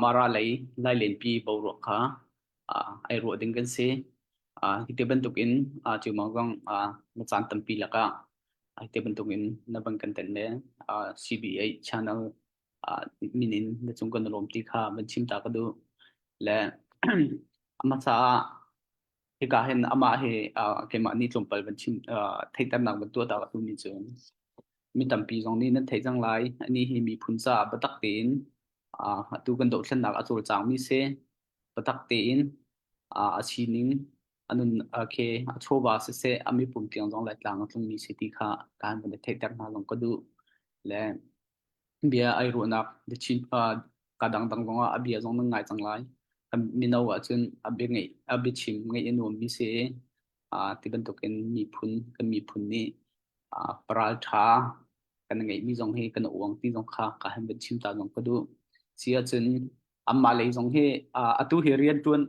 Mara lei nai lenpi boruak kha ai ruah ding kan si. Hi te bantukin cu mangkang na caan tampi lakah hi te bantukin na ban kan ten le CBA channel minin na chung kan lawmti kha ban chimta ka duh. Le a hmasa ah Hika hin amah hi uh, keimah nih tlawmpal van chim uh, theihternak van tuah ta ka tu ni cu mi tampi zong nih nan theih cang lai ani hi miphun caah biatak tein uh, atu kan dohthlennak a cawlcangmi se biatak tein uh, a sining anun okay a chawva siseh a mipum tiang zong lai tlang a tlungmi se ti kha kan van i theihter hna zong ka duh le Bia ai ruahnak na chin uh, ka dangdang zongah a bia zong nan ngai cang lai. A mino ahcun a bia ngeih a biachim ngeih a nuammi si i uh, ti bantukin miphun kan miphun nih uh, paraltha kan ngeihmi zong hi kan uang ti zong kha ka han van chim ta zong ka duh. Si ahcun Anmah lei zong hi atu hi riantuan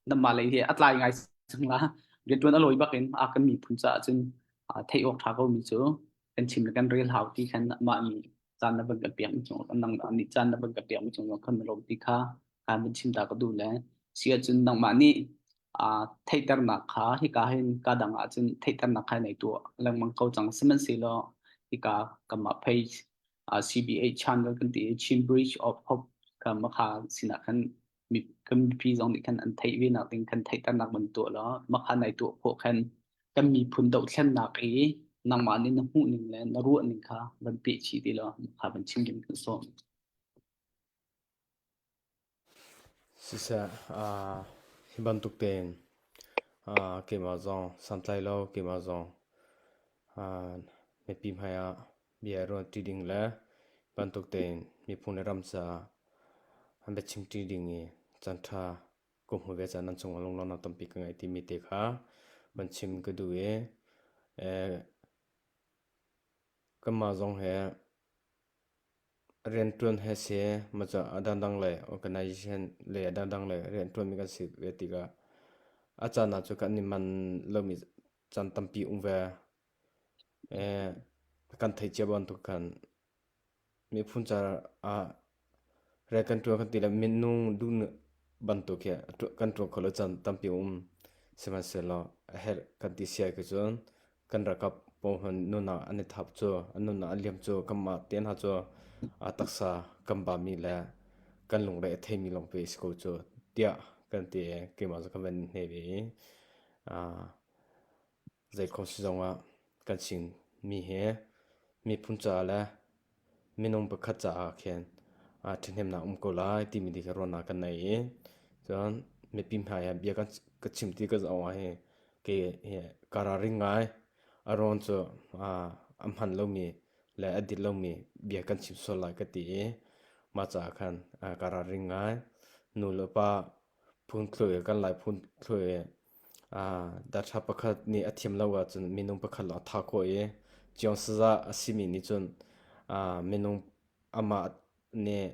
nanmah lei hi a tlai ngai cang la riantuan a lawi bak in a kan miphun caah cun theih awk tha ko mi cu kan chim le kan rel hau ti khan mah ni caan na van ka piak mi chung nang ni caan na van ka piak mi chung kan lo ti kha kan van chim ta ka du le sia cun nang mah ni theiternak kha hika hin ka dang ah cun theiternak khai nei tu lengmang ko cang sihmanhsehlaw hika kamah phei uh, CBA chan kan ti Chin Bridge of Hope kan makha sinah kan community zong nih kan an theih ve nak ding kan theih tan nak man tu la makha nai tu pho khan kan mi phun do thlen nak i nangma ni na hmu ning le na ruah ning kha van pe chi ti lo makha van chim kim kan so Siseh hi bantuk tein keimah zong santlai lo keimah zong mipi hmai ah bia i ruah ṭi ding le bantuk tein miphun le ram caah biachim ṭi ding i caanṭha ka hmu ve caah nan cungah lunglawmhnak tampi ka ngei timi te kha van chim ka duh i kanmah zong he Rianṭuan he seh, maca a dangdang le organisation le a dangdang le rianṭuanmi kan si ve tikah a caan ah cu kan i man lomi caan tampi um ve. kan theih cia bantuk khan miphun caar ah rian kan ṭuan kan ti le minung duh bantuk hi kan ṭuan khawh lo caan tampi um. Sihmanhsehlaw a herh kan ti siai cu cun. Kan rakap pohon nunah an i thap cu an nunah a liam cu kanmah te hna cu a taksa kan bami le kan lunglei a theimi lawng ve a si ko cu tiah kan ti i keimah cu ka van hne ve i zeikhom si zongah kan Chinmi hi miphun caah le minung pakhat caah khin ṭhahnemnak a um ko lai timi ti kha ruahnak kan ngei i cun mipi hmai ah bia ka chim ti ka zoh ah hi kei hi ka ralring ngai a ruang cu a hman lomi le a dit lomi bia kan chim sual lai ka ti i mah caah khan ka ralring ngai nu le pa phun thlu i kan lai phun thlu i Daṭha pakhat nih a thiam lo ahcun minung pakhat lawng a tha khawh i ciawngsazah a simi nih cun minung amah nih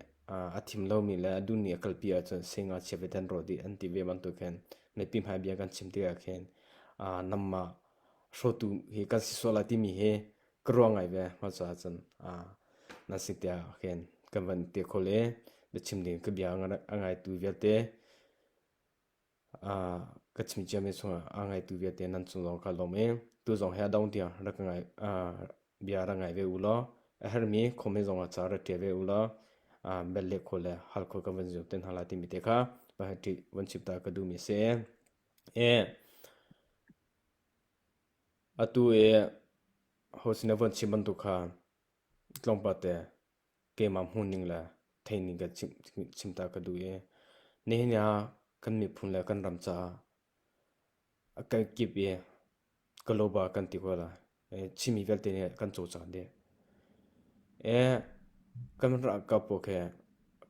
a thim lomi le a duhmi a kalpi ahcun sengngachia ve tan rawh dih an ti ve bantuk hin mipi hmai bia kan chim tikah khin nangmah hrawtu hi kan si sual lai timi hi ka ruah ngai ve. Mah caah cun nan si tiah khin kan van ti khawh i biachim ding in ka bia a ngaitu vialte. ka chimcia mi chungah aa ngaitu vialte nan cung lawng ka lawm i tu zong hi a dong tiang rak ka ngai bia rak ngai ve u law a herhmi khomi zongah ca rak ṭial ve u law bel leh khawh le hal khawh kan van zum te hna lai timi te kha pahati van chimta ka duhmi a si. Atu i ho sin a von chim bantuk kha tlawmpal te keimah hmuh ning le theih ning ka chim ta ka duh i nihin ah kan miphun le kan ram caah a kal kip i global kan ti ko lai Chinmi vialte nih kan cawlcang dih. kan ralkap pawl khi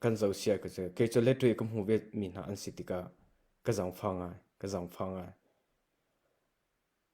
kan zohsia ka si kei cu letwe ka hmu ve mi hna an si tikah ka zangfang ngai ka zangfang ngai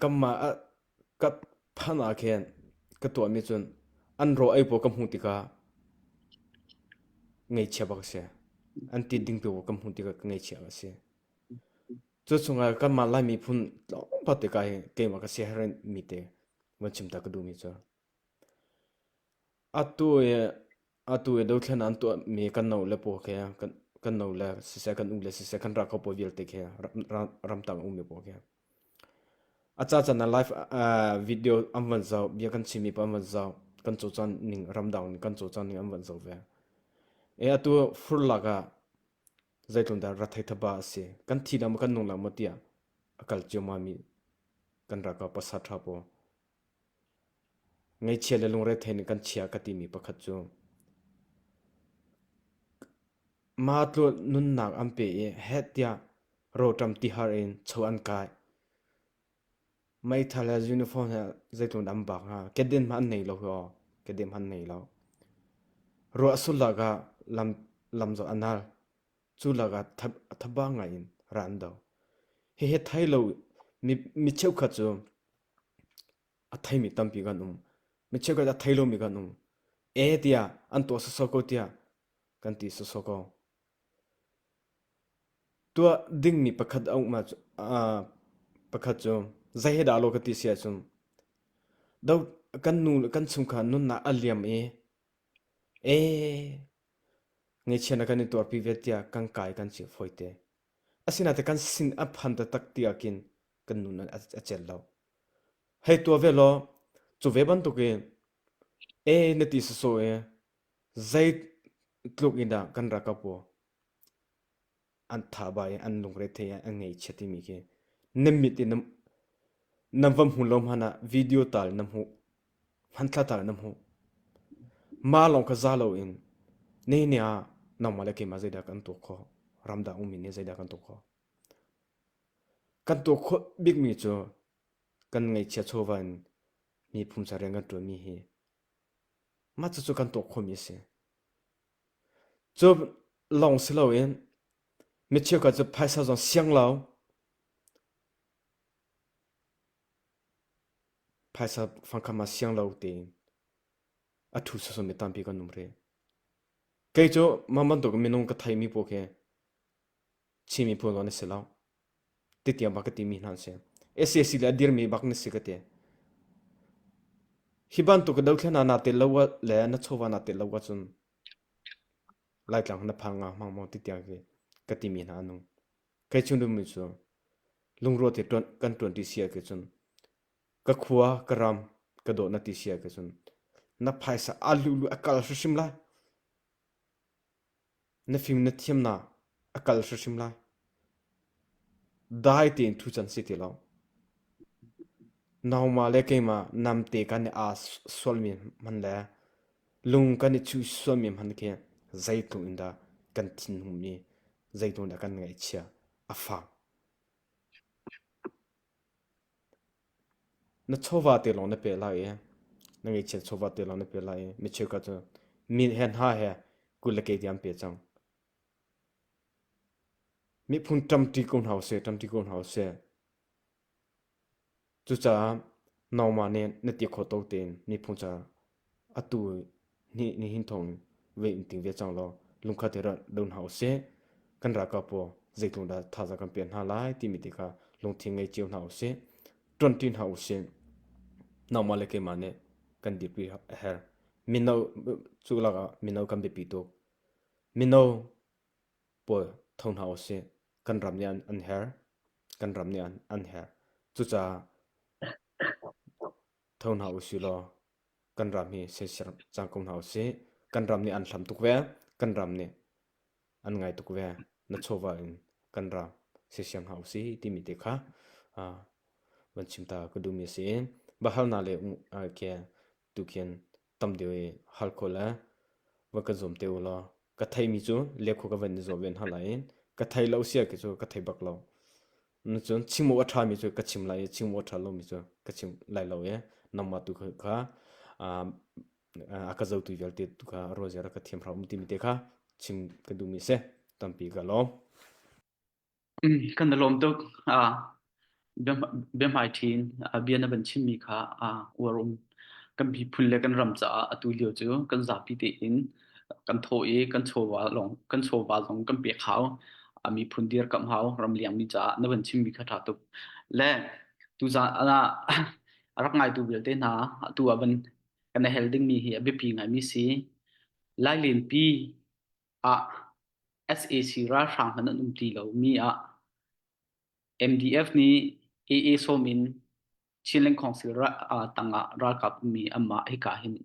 Kamah a ka than ah khin ka tuahmi cun an ro ei pawl ka hmuh tikah ngaihchia bak a si. An tit ding tu pawl ka hmuh tikah ka ngaihchia bak a si. Cuchungah kanmah Lai miphun tlawmpal tikah hi keimah ka siaherh mi te van chim ta ka duhmi cu. Atu i dothlen ah an tuahmi kan nule pawl khi kan nule siseh kan ule siseh kan ra kho pawl vialte khi ramtang a ummi pawl khi a cacan ah live video an van zoh bia kan chimmi paoh an van zoh kan cawcawning ramdang nih kan cawcawning an van zoh ve i atu furlak ah zeitlundah ra thei thaba a si kan thi dah maw kan nung dah maw tiah a kal ciammam i kan ra ka pasat ṭha pawl. Ngeichia le lungrethei nih kan chia ka timi pakhat cu matluh nunnak an pe i heh tiah rawṭam tihar in cho an kai. Meithal he uniform he zeitlun an bak hnga kedim hmanh an nei lo hi aw kedim hmanh an nei lo. Ruah a sulh lakah lam lam cu a nal. Cu lakah thabang ngaiin ra an do. Hihi thei lo mi cheukhat cu A theimi tampi kan um. Mi cheukhat a thei lomi kan um. E tiah an tuah sawsawh ko tiah kan ti sawsawh ko. Tuah dingmi pakhat a um cu uh, pakhat cu zei he dah lo ka ti sia cu do kan nu le kan chungkha nunnak a liam i e ngeichia na kan i tuarpi ve tiah kan kai kan chim foi te asina te kan sin a phan ta tak ti akin kan nu nan a cel lo. Hei tua ve law, cu ve bantuk i, e na ti saso e, zei tluk in dah kan ra ka po, an tha ba i an lungre the an ngei chia timi khi, na mit i na vam hmu lo hmanh ah video tal na hmuh, hmantla tal na hmuh. Ma lawng ka za lo in, nei ne ah, nangmah le keimah zeidah kan tuk kho, ramdang ummi ne zeidah kan tuk kho. Kan tuah khawh bikmi cu kan ngeihchia chawva in mi pumsa rian kan ṭuanmi hi mah cucu kan tuah khawhmi a si. Cu lawng si loin mi cheukhat cu phaisa zong sianglau, phaisa fangkham ah sianglo tein a ṭhu sawsawh mi tampi kan um rih. Kei cu mah bantuk minung ka theimi paoh khi Chin miphun lawng na si lo. Titiang bak ka timi hna an si. SAC le a dirmi bak na si ka ti. Hi bantuk ka dothlen ah naa tel lo le na chawva naa tel lo ahcun Laitlang na phang nga hmang maw titiang ki ka timi hna anung. Kai chung dum cu lungruat te kan tuanti sia ke cun ka khua ka ram ka do na ti sia ke cun na phaisa a luhluh a kal hrimhrim lai. Na fim na thiamnak a kal hrimhrim lai. Dai tein thu can si ti lo. Nauma le keimah namte kan i aa sualmi hman le lung kan i chuh sualmi hman khi zeitluk in dah kan thinhung mi, zeitluk in dah kan ngaihchia a fak. Na chawva te lawng na peh lai i na ngeichia chawva te lawng na peh lai i mi cheukhat cu min he hna he kul le kei tiang an peh cang. Miphun ṭamṭi ko hna usih, ṭamṭi ko hna usih. Cucaah nangmah nih na ti khawh tuk tein miphun cu Atu nih nihin thawng vei in ting ve cang law lungkhat i rat lo hna usih. Kan ralkap pawl zeitlungdah thazaang kan pek hna lai timi te kha lungthin ngei cio hna usih. Ṭuanṭi hna usih. Nangmah le keimah nih kan dirpi a herh. Mino cu lakah mino kan biapi tuk. Mino pawl tho hna usih. Kan ram nih an, an herh. Kan ram nih an, an herh. Cucaah Tho hna u sih law kan ram hi soisel cang ko hna u sih. Kan ram nih an hlam tuk ve. Kan ram nih an ngai tuk ve. Na chawva in kan ram soisel hna u sih timi te kha ah van chim ta ka duhmi a si. Bahal na le ke tu khin tam deuh i hal khawh le va kan zuam te u law ka thei mi cu lekhu ka van i zuam ven hna lai in ka thei lo sia ki cu ka thei bak lo cun chingmu a ṭha mi cu ka chim lai i chingmu a ṭha lo mi cu ka chim lai lo i nangma tu kha a ka zotu vialte tu kha ro ziara ka thiam hram ti mi te kha chim ka duh mi si tampi ka lawm Kan i lawm tuk. Ah, biahmaiṭhi in ah bia na van chimmi kha ah uar um. Kan miphun le kan ram caah atu lio cu kan zapi tein kan thaw i kan chawva lawng kan chawva zong kan pek hau. A miphun dirkamh hau ram liangmi caah na van chimmi kha ṭha tuk. Le tuzan ah a rak ngaitu vialte hna atu ah van kan i hel dingmi hi a biapi ngaimi si. Lai Lianpi ah sac ralhrang hmanh an um ti lomi ah MDF nih AA sawm in Chin Leng Council tangah ralkap ummi anmah hika hin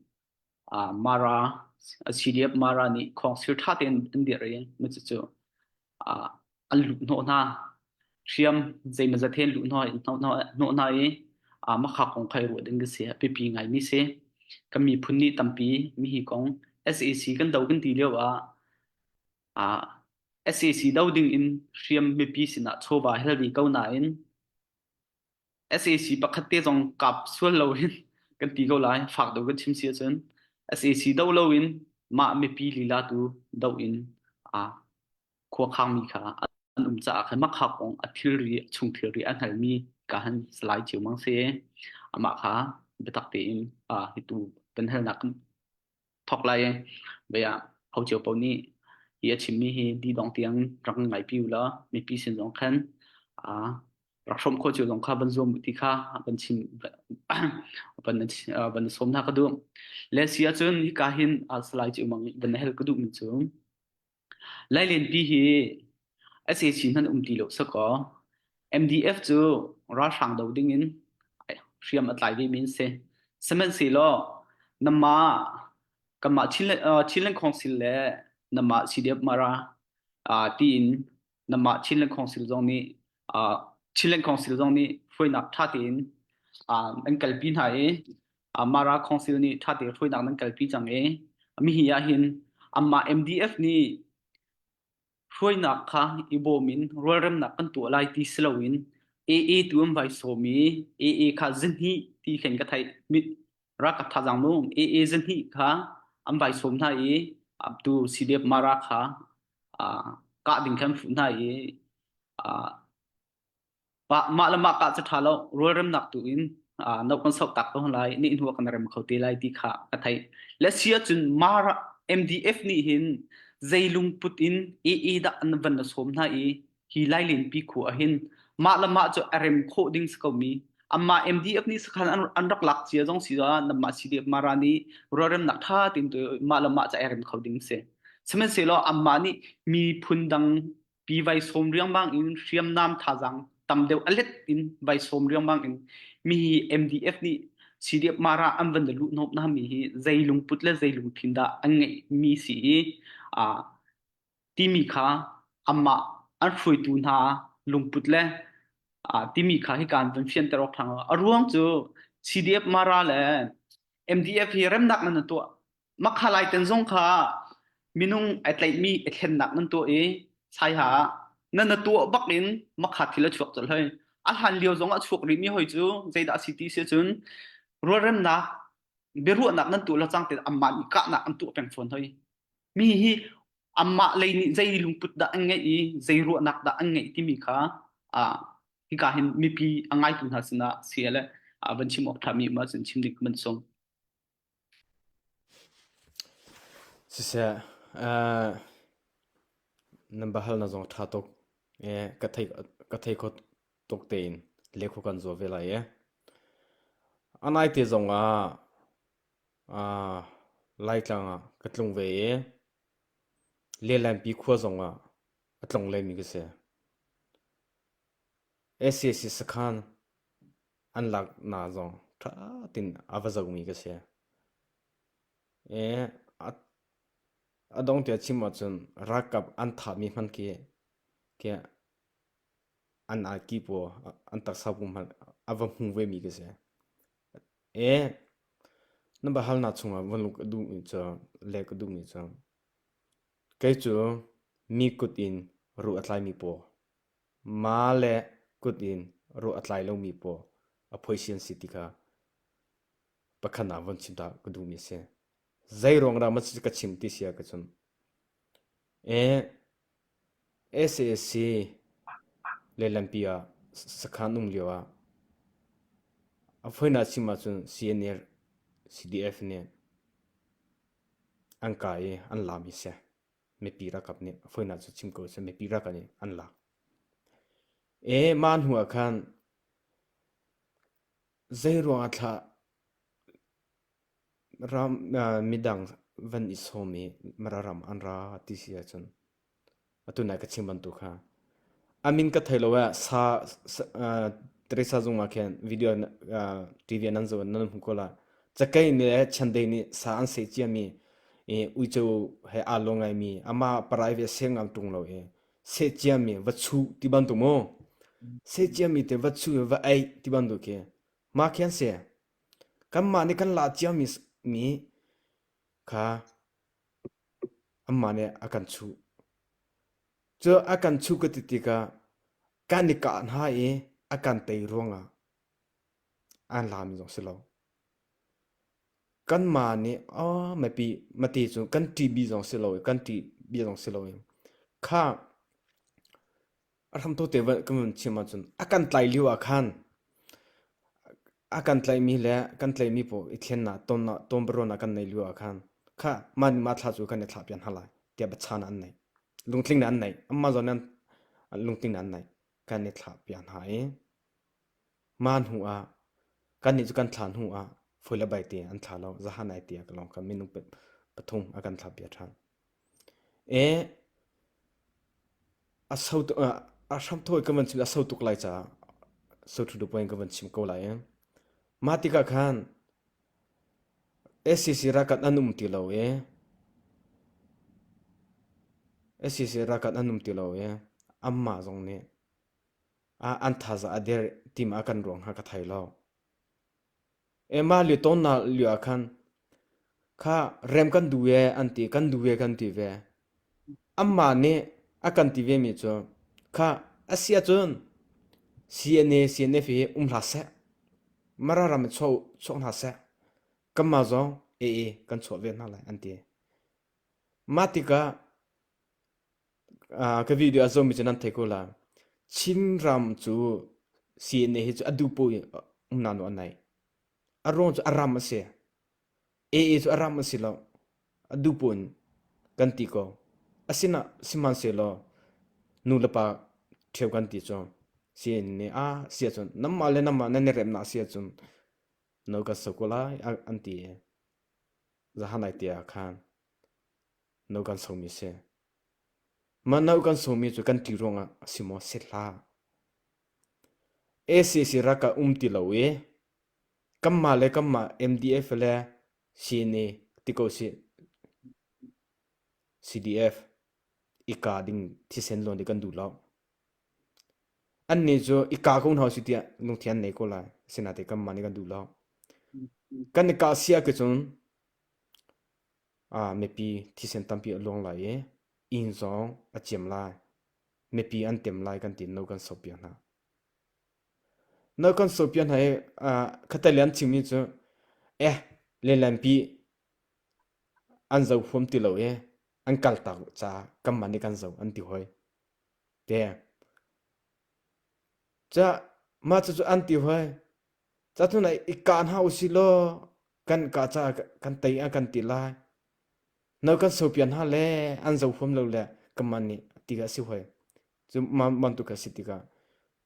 Mara CDF Mara nih Council ṭha tein an dirh i macu cu an luhhnawh hna. Hriam zeimazat hen luhhnawh hnawh hna i a makhak kong khai ruah ding ka si a pipi ngai mi si. Kan miphun ni tampi mi hi kong SAC kan do kan ti lio ah a SAC do ding in hriam mipi sinah chawva hel di ko na in SAC pakhat te zong kap sual lo in kan ti ko lai fak do kan chim si cun SAC do lo in mah mipi lila tu do in a khuakhangmi kha an um caah khan makhak kong a thilri a chung thilri a hngalmi ka han salai cio mang se amah kha biatak tein a hitu penhalnak thok lai vaya hau cio po nih hi a chimmi hi di dong tiang rak ngai pi la mipi sin zong khan a rak hrom kho cio zong kha ban zuam ti kha ban chim ban ban som na ka du le si a cun hi ka hin a salai cio mang ban hel ka du min chung Lailenpi hi ase chin han um ti lo sakaw MDF cu ralhrang do ding in hriam a tlai ve mi an si. Sihmanhsehlaw namah kanmah Chin le Chin Lengkhawng sil le namah CDF Mara tiin namah Chinland Council zong nih Chinland Council zong nih hruainak ṭha tein an kalpi hna i Mara Council nih ṭha tein hruainak nan kalpi cang i mihi ahhin anmah MDF nih hruainak kha i bawm in rualremnak kan tuah lai ti si loin AA tu an vai sawm i AA kha zinhi ti khin ka theih mit rakap tha jang nu AA zinhi kha an vai sawm hna i abdu CDF Mara kha ah kah ding khan fuh hna i ah pa- mah le mah kah cu ṭha lo rualremnak tu in ah no kan soh tak ko hna lai nih hnu ah kan rem kho te lai ti kha ka theih le si ahcun mara MDF nih hin zei lungput in EE dah an van la sawm hna i hi lailin pi khu a hin mah le mah cu a rem khawh ding si komi amma MDF nih sakhan an an rak lak cia zong si za nam ma CDF mara ni rorem nak tha tin tu ma le ma cha erem kho ding se semen se lo amma ni mi phun dang pi vai som riang bang in hriam nam tha jang tam deu alet in vai som riang bang in mi hi MDF ni CDF mara an van de lu nop na mi hi zeilung put le zeilung thin da an ngei mi si a timi kha anmah an hruaitu hna lungput le timi kha hika an vun fianter awk ṭhang a ruang cu CDF Mara le MDF hi remnak nan tuah makha lai ten zong kha minung ai tlaihmi i thlennak nan tuah i saiha nan tuah bak in makha thil a chuak colh hoi a hlan lio zong a chuak rihmi hoi cu zeidah a si ti si cun rualremnak biaruahnak nan tuah lo cang te anmah nih kahnak an tuah peng fawn hoi Mi hi anmah lei nih zei lungput dah an ngeih i zei ruahnak dah an ngeih timi kha uh, hika hin mipi a ngaitu hna sinah si le uh, van chim awk ṭhami ma cun chim dik man sung. Siseh, uh, nan bahal na zong ṭha tuk e ka thei ka thei kho tuk tein lekhu kan zo ve lai e. Anai te zong ah Laitlang ah ka tlung ve i Lianlianpi khua zong ah a tlung lemi ka si. SAC sakhan an laknak zong ṭha tein a va zohmi ka si. I a dongh tiah chim ahcun ralkap an thahmi hmanh khi khi an arki pawl an taksa pawl hmanh a va hmu vemi ka si. Na biahalnak chungah van lut ka duhmi cu leh ka duhmi cu kei cu mi kut in ruh a tlaimi paw maa le kut in ruh a tlai lomi paw a phoisi an si ti kha pakhat ah von chim ta ka duhmi a si. Zei ruang dah ka chim ti si ahcun sac lehlampi ah sakhan um lioah a foinak chim ahcun CNL CDF nih an kai i an laam i seh mipi ralkap nih a foinak cu chim ko seh mipi ralkap nih an laak. mah hnu ah khan zeiruang ah thlah Midang van i sawm i Mara ram an ra ti si ahcun atu nai ka chim bantuk kha a min ka thei lo ah sa Teresa zung ah khin video TV nan zoh nan hmu ko la cakei nih le chiandei nih sa an sei cia mi i uico he aa lo ngai mi amah private a sei ngang ṭung lo i seh cia mi va chuh ti bantuk maw seh cia mi te va chuh i va eih ti bantuk khi mah khi an si. Kanmah nih kan lah ciami kha anmah nih a kan chuh. Cu a kan chuh ka ti tikah kan i kah hna i a kan tei ruangah an lami zong si lo. Kanmah nih mipi mate cu kan ṭih bih zong si lo i kan ṭih bih zong si lo i kha A hramthawh te voih ka nun chiam ahcun a kan tlai lio ah khan a kan tlaihmi le kan tlaihmi pawl i thlennak tonnak tonbiaruahnak kan neih lio ah khan kha mah nih mah thla cu kan i thlah piak hna lai tiah biachahnak an neih lungtling nih an neih anmah zawn nih lungtling nih an neih kan i thlah piak hna i mah hnu ah kannih cu kan thlah hnu ah foi le baite an thlah lo zahan ai tiah ka lawng kha minung pathum a kan thlah piak ṭhan. A hramthawh i kan van chim i a so tuk lai caah soṭhuṭu puai in kan van chim ko lai i mah tikah khan SCC ralkap an um ti lo i SCC ralkap an um ti lo i anmah zong nih an thazaang a der ti maw a kan ruang kha ka thei lo. Emma liautawnnak lio ah khan kha rem kan duh ve an ti, kan duh ve kan ti ve. Anmah nih a kan ti vemi cu kha a si ahcun CNA CNF hi um hlah seh, Mara ram hi chuah, chuak hna seh, kanmah zong AA kan chuah ve hna lai an ti. Mah tikah ka video a zomi cu nan thei ko la. Chinram cu CNA hi cu a dupo in um nanu an naih. A ruang cu a ram a si. AA cu a ram a si lo. A dupo in kan ti ko. Asina sihmanhsehlaw nulepa ṭheu kan ti cu. CNA ah si ahcun nanmah le nanmah nan i remnak a si ahcun no kan so ko lai an ti i zahanai tiah a khan. No kan sawmi a si. Mah no kan sawmi cu kan ti ruangah a si maw set hlah. ACC raka um ti lo i kanmah le kanmah MDF le CNA ti ko si CDF i ka ding thisen lawn i kan duh lo. An ne cu i ka ko hna si tiah lungthin an nei ko lai. Sinate kanmah nih kan duh lo. Kan i ka sia ke cun Mipi thisen tampi a luang lai i inn zong a ciam lai. Mipi an tem lai kan ti. No kan sohpiak hna. No kan sohpiak hna i khatai le an chimmi cu eh lenlenpi an zo huam ti lo i an kaltak ca kanmah nih kan zo an ti hoi. Te. Mah cucu an ti hoi. Cahnunei i kah hna usih law kan kah caah kan tei a kan ti lai. No kan so pian hna le an zo huam lo le kanmah nih ti a si hoi. Cu man bantuk a si tikah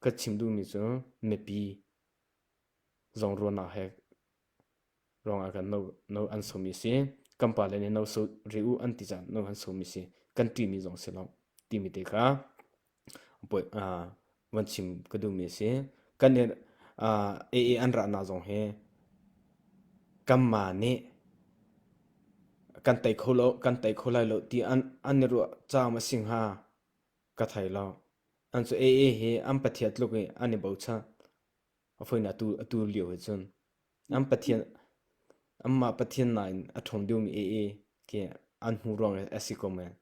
ka chim duhmi cu mipi zong ruahnak he ruangah kan no no an somi si. Kan pale nih no so ri u an ti caan no an somi si. Kan ṭihmi zong si lo timi te kha. van chim ka duhmi a si. Kan nih AA an rahnak zong hi kanmah nih kan tei kho lo, kan tei kho lai lo ti an i ruah caam a si hnga ka thei lo. An cu AA hi an pathian tluk i an i bochan. A fawinak atu lio he cun. Anmah Pathian nakin a ṭhawng deuhmi aa khi an hmuh ruang a si ko men.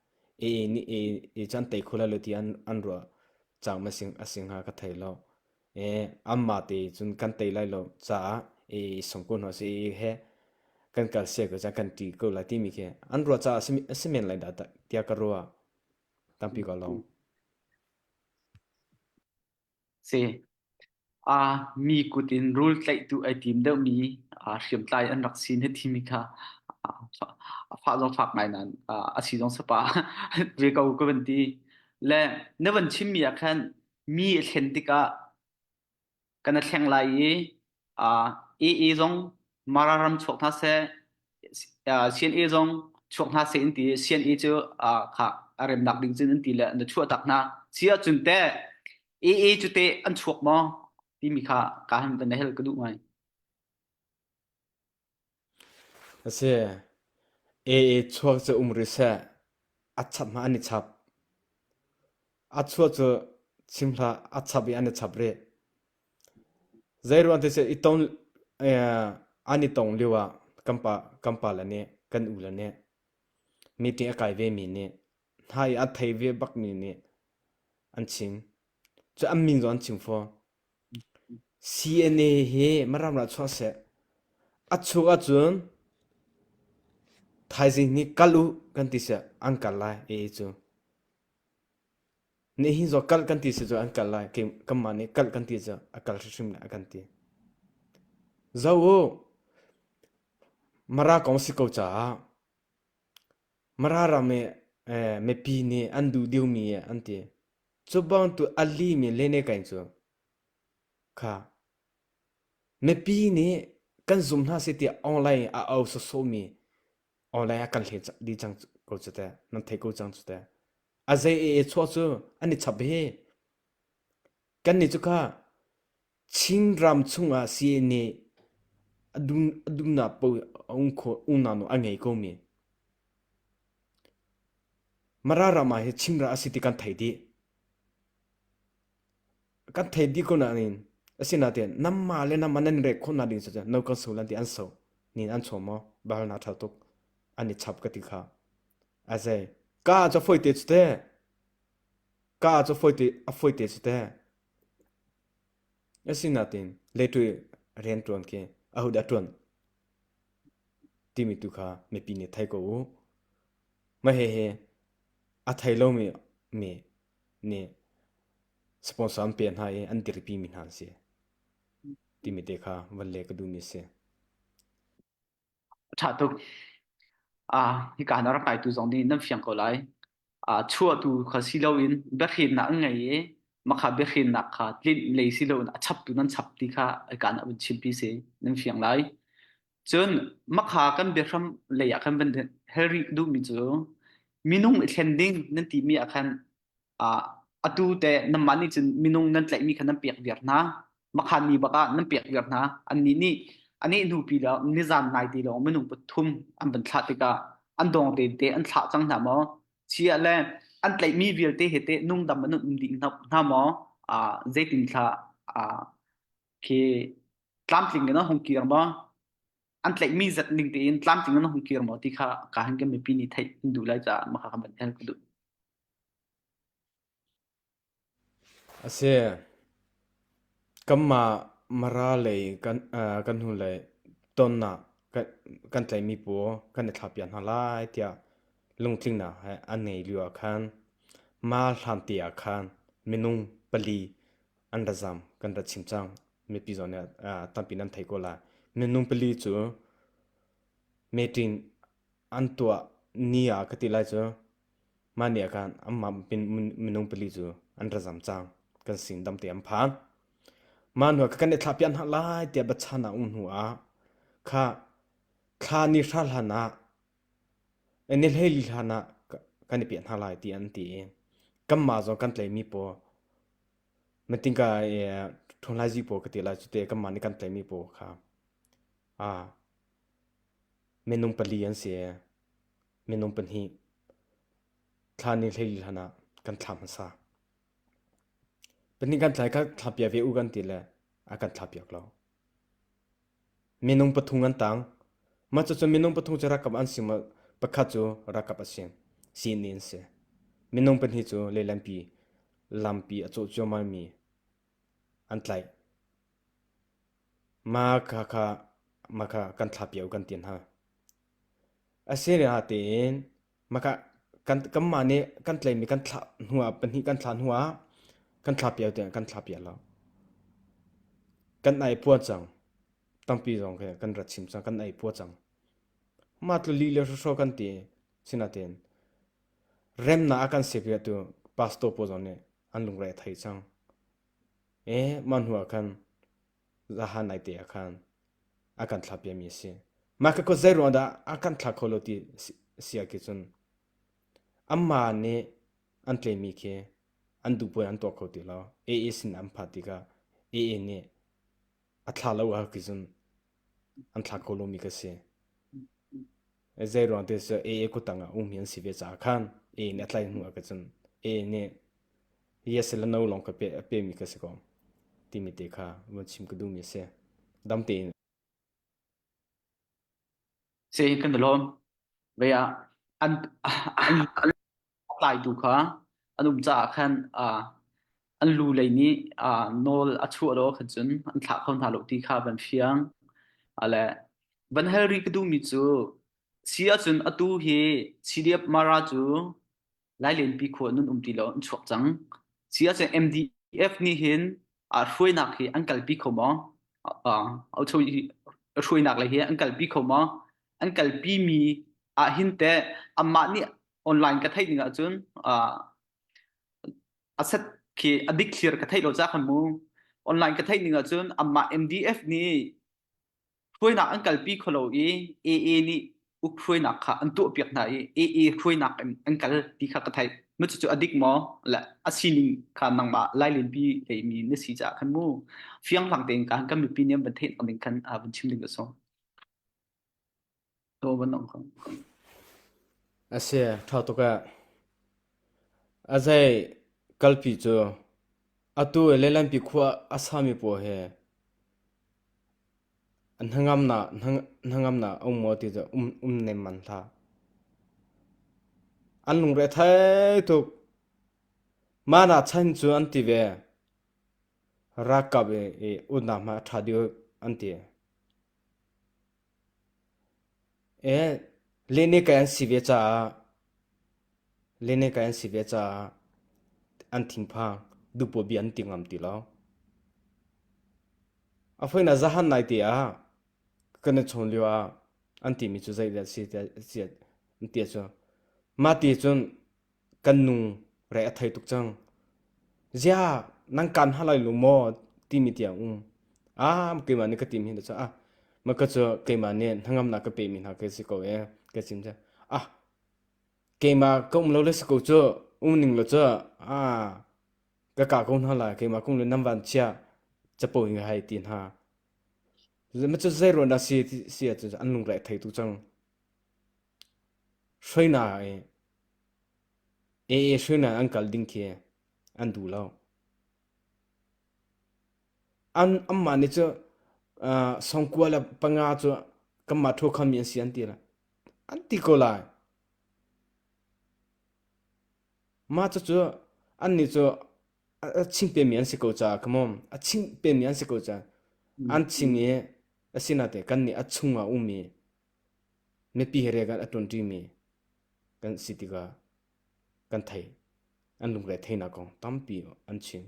Aa nih aa cun tei kho lai lo tiah an ruah cang a si hnga ka thei lo. Anmah te cun kan tei lai lo caah aa i song ko hna seh, aa he kan kal siah ko tiah kan ṭih ko lai timi khi an ruah caah a si men lai dah tiah ka ruah. Tampi ka lawm. Si. Ah, mi kut in rul tlaihtu ai tim deuhmi ah, hriamtlai an rak sin hi timi kha ah, fa- fah zong fak ngai nan ah, a si zong sapa ve ko ka van ti. Le na van chimmi ah khan mi a thlen tikah kana thleng lai i Ii zong Mara ram chuak hna seh, Sian ii zong chuak hna seh an ti. Sian ii cu a remnak ding cun an ti le na chuah tak hna. Si ahcun te ii cu te an chuak maw timi kha ka han van hel ka duh ngai. A si. Ee chuak cu um rih seh. A chap hmah an i chap. A chuah cu chim hlah, a chap i an i chap rih. Zeiruang ti seh, i tong, an i tong lio ah kan pa, kan pa le nih, kan u le nih, meeting a kai ve mi nih, hna i a thei ve bak mi nih an chim. Cu an min zong an chim fawn. CNA hi Miram ah chuah seh, a chung ahcun thaizing hi kal u kan ti seh an kal lai AA cu. Nihin zaw kal kan ti seh cu an kal lai kanmah nih kal kan ti cu a kal hrimhrim lai a kan ti. Zo u Mara kong si ko caah Mara ram i mipi nih an duh deuhmi an ti. Cu bangtuk a limi lenekai cu kha mipi nih kan zum hna seh tiah online a au sawsawmi online ah kan hlei dih cang ko cu teh, nan thei ko cang cu teh. A zei ee chuah cu an i chap hi. Kannih cu kha Chin ram chungah sii nih a dumnak paoh unau a ngei ko men. Mara ram ah hi Chinra a si ti kan thei dih. Kan thei dih ko nain asinain namma le nama nan rek khawh nak ding cu no kan so lan ti an so nin an chom maw bal na thal tuk an i chap ka ti kha azai ka cho foi te cu te ka cho foi te a foi te cu te Asinain leṭuih rian ṭuan khi ahodah a ṭuan timi tu kha mipi nih thei ko u. Mahhi hi a thei lomi mi nih sponsor an pek hna i an dirpimi hna an si timi te kha van leh ka duhmi a si. A ṭha tuk. Ah, hika na rak kaitu zong nih nan fiang ko lai. Ah, chuahtu kha si loin biahrinnak an ngei i mah biahrinnak kha tlinh lei si loin a chaptu nan chap ti kha hika na vun chimpi si. Nan fiang lai. Cun mah kan biahram lei ah khan van hel rih duhmi cu minung i thlen ding nan timi ah khan uh, atu te namma nih cun minung nan tlaihmi kha nan pek viar hna makhan mi bak ah nan pek viar hna anni nih anih hnu pi lo nizan nai ti lo minung pathum an ban thla tikah an dong te te an thla cang hna maw chia le an tlaihmi vialte he te nungdam anut ding hna maw uh, zeitin thla uh, khi tlamtling na hong kir maw an tlaihmi zat ning tein tlamtling na hong kir maw ti kha ka han ke mi pi ni thai du lai cha ma kha kan ban hel ku du A si, kanmah Mara lei kan hnulei tonnak kan tlaihmi pu kan i thlahpiak hna lai tiah lungtlinnak he an ngei lio ah khan mah hlante ah khan minung pali an ra zam kan ra chim cang mipi zawn nih tampi nan theih ko lai. Minung pali cu meeting an tuah ni ah ka ti lai cu Mah ni ahkhan anmah minung pali cu an ra zam cang. Kan sin dam te an phan. Mah hnuah kan i thlahpiah hna lai tiah biachan a um hnuah kha thla ni hra hlanah ni hleili hlanah kan i piah hna lai tiah an ti i kanmah zong kan tlaihmi paw metingka i ṭhunhlaizi paw ka ti lai cute kanmah nih kan tlaihmi paw kha minung pali an si. minung pahnih thla ni hlei hlan ah kan thla hmasa. Pahnih kan thlai kha thla pia ve u kan ti le a kan thla piak lo. Minung pathum an tang. Ma cu minung pathum cu rakap an si ma pakhat cu rakap a si. Sin ni an si. Minung pahnih cu lelampi lampi a cawh cio mai mi an tlai. Ma kha kha ma kha kan thla piau kan tin ha. A si lio ah tiin kanmah nih kan tleimi kan thlah hnuah pahnih kan thlah hnuah kan thlah piak tiang kan thlah piak lo. Kan ai pua cang. Tampi zong khi kan rat chim cang. Kan ai pua cang. Mah tluk lih lio hrawhraw kan ti. Sinain remnak a kan sik riah tu pastor pawl zong nih an lungre a thei cang. Ee mah hnuah khan Zahan naite ah khan a kan thlak piami a si. Mah ka kut zei ruang dah a kan thlak kho lo ti si ah khi cun anmah nih an tlemi khi an duhpuai an tuah kho ti lo. AA sin an phan tikah AA nih a thla lo ah khi cun an thlak kho lomi ka si. Zei ruang te cu AA kuttang ah ummi an si ve caah khan AA nih a tlaih hnu ah khi cun AA nih Yes le no lawng ka pe, pemi ka si ko timi te kha vun chim ka duhmi a si. Dam tein. Si kan de lawm. Ve ah an an an tlai tu kha an um ca khan an lu lei nih nawl a chuah lo khan cun an thlah kho hna lo ti kha van fiang ale van hal ri ka duhmi cu si ahcun atu hi CDF mara cu Lailenpi khua nun um ti lo an chuak cang. Si a seng MDF nih hin a hruainak hi an kalpi kho maw? Au cho hruainak le hi an kalpi kho maw? An kalpi mi ah hin te amah nih online ka theih ning ahcun asset khi adik thlir ka theih lo ca khan mu. Online ka theih ning ahcun amah MDF nih hruainak an kalpi kho lo i AA nih uk hruainak kha an tuahpiak hna i AA hruainak in an kal ti kha ka theih mu cucu a dik maw la a sining kha nangmah lailin pi lei mi na si caah khan mu fiang fang tein kan kan mipi nih an van theih nak ding khan a van chim ding ka sawm A si, ṭha tuk ee. A zei kalpi cu atu i leilanpi khua a sami pawl hi hnangamnak hnangamnak a um maw ti cu um um nem man hlah. An lungre thai tuk. Ma na chan cu an ti ve. Rakap i unam ha ṭha deuh an ti. Leneka an si ve caah an thinphang. Duhpoh bia an ti ngam ti lo. A foin ah zahan nai te ah kan i chawn lio ah an timi cu zeidah a si ti a si an ti ahcun mah ti cun kan nu reh a thei tuk cang. Zia nan kaan hna lai lu maw timi tiang um. A keimah nih ka tim hi na cu a ma ka cu keimah nih hnangamnak ka pemi hna ka si ko ee ka sim cu. A keimah ka um lo le si ko cu um ning lo cu a ka ka ko hna lai keimah kong le nan van chia capo hi hai ti hna. Le ma cu zei ruah dah si ti si ah cun an lung reh a thei tuk cang. Hruainak i AA hruainak an kal ding khi an duh lo. An anmah nih cu uh, sawngkua le panga cu kanmah ṭhu khomi an si an ti lai. An ti ko lai. Mah cucu annih cu a a ching pemi an si ko caah come on, a ching pemi an si ko caah an ching i a sinah teh kannih a chungah a um i Mipi he riak ah a ṭuanṭimi kan si tikah kan thei. An lungre theihnak kong tampi an chim.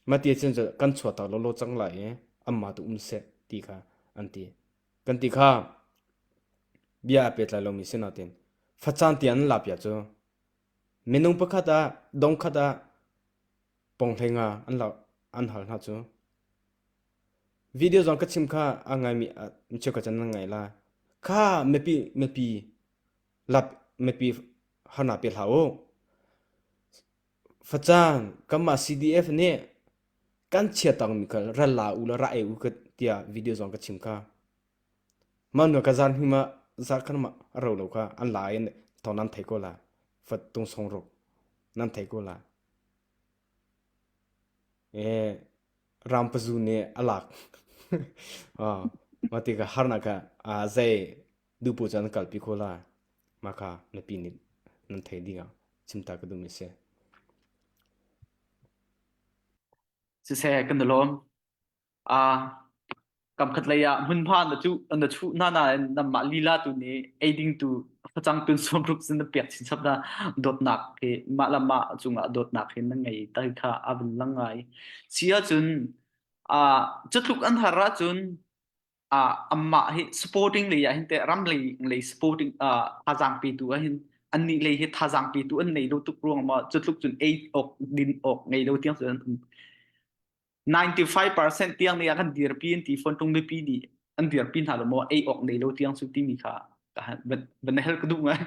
Mah ti ahcun kan chuahtak lawlaw cang lai i anmah tu um seh ti kha an ti. Kan ti kha bia a pehtlai lomi si nain facaan ti an laa pia cu minung pakhat ah dongkhat ah ponghlei nga an hal hna cu. Video zong ka chim kha a ngaimi ah cheu ka can nan ngai lai. Kha mipi mipi lap mipi harna pe hlah u. Facang kanmah CDF nih kan chia tangmi kha ral la u la ra ei u ka tiah video zong ka chim kha. Mah nu ka zan hi ma zar khan ma ro lo kha an la in thong nan thei ko la. Fat tung song ruk nan thei ko la. Rangpazu nih a lak. Mah tikah harnak ah zei duhpoh cu an kalpi khawh lai. Mah kha mipi nih nan theih ding ah chimta ka duhmi a si. Siseh, kan i lawm. Ah, kamkhatlei ah hmunhma na cuh na chuh hna nain nanmah lila tu nih eiding tu facang tun sawm rup sin na pek chin chap na dawtnak hi mah le mah cungah dawtnak hi na ngei ta kha a vun lang ngai si ahcun ah cutluk an har ahcun ah amah hi supporting lei ah hin teh ram lei lei supporting ah thazang pe tu ah hin annih lei hi thazang pe tu an nei lo tuk ruang ma cutluk cun ei ok din ok ngei lo tiang cun an um 95 percent tiang nih a kan dirpi an ti fawn tung mipi nih an dirpi hna lo maw ei awk nei lo tiang su timi kha ka van na hel ka duh ngai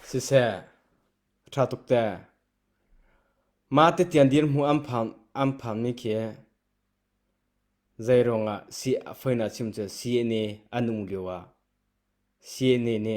siseh tha tuk te ma te tian dir mu am phang am phang mi khi zeirawng ah si a foina chim cu si ne anung liu a si ne ne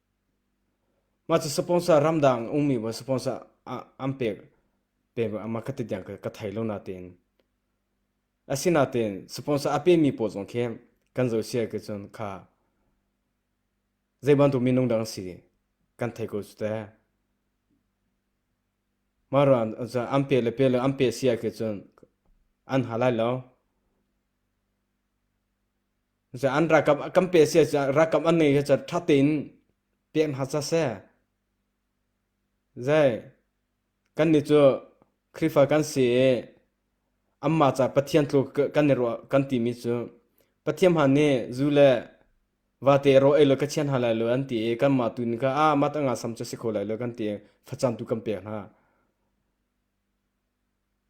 Mah cu sponsor ramdang an ummi maw sponsor an pek maw ka ti tiang ka thei lo natein. Asinatein sponsor a pemi pawl zong khi kan zaw sial ke cun kha zeibantuk minung dah an si kan thei ko cu teh. Mah ruang ah an pek le pek le an pek sial ke cun an ha lai lo. Za an rakap kan pe sia cu rakap an nei cu tha tein pek hna sa se zai kan ni cu Khrihfa kan si i amma ca Pathian tlu kan ni ro kan ti mi cu Pathian han nih zu le vate ro ei lo ka chian ha lai lo an ti i kan ma tu ni ka a ma ta nga sam cu si kho lai lo kan ti facam tu kan pek hna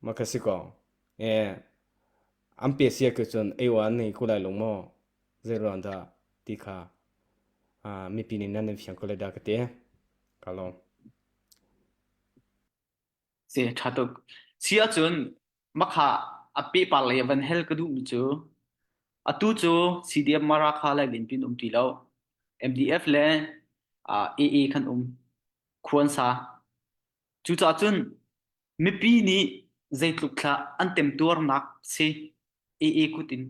ma ka si ko e an pesiak ke cun eiwa an nei ko lai lo maw zeiruang dah ti kha uh, mipi nih nan in fiang ko lai dah ka te ka lawm se tha tuk si acun makha ape par le van hel ka duh mi cu atu cu CDM marakha lai bin pin um ti lo MDF le uh, AA kan um khuan sa Cucaah cun mipi nih zeitluk thlah an temtuarnak si AA kut in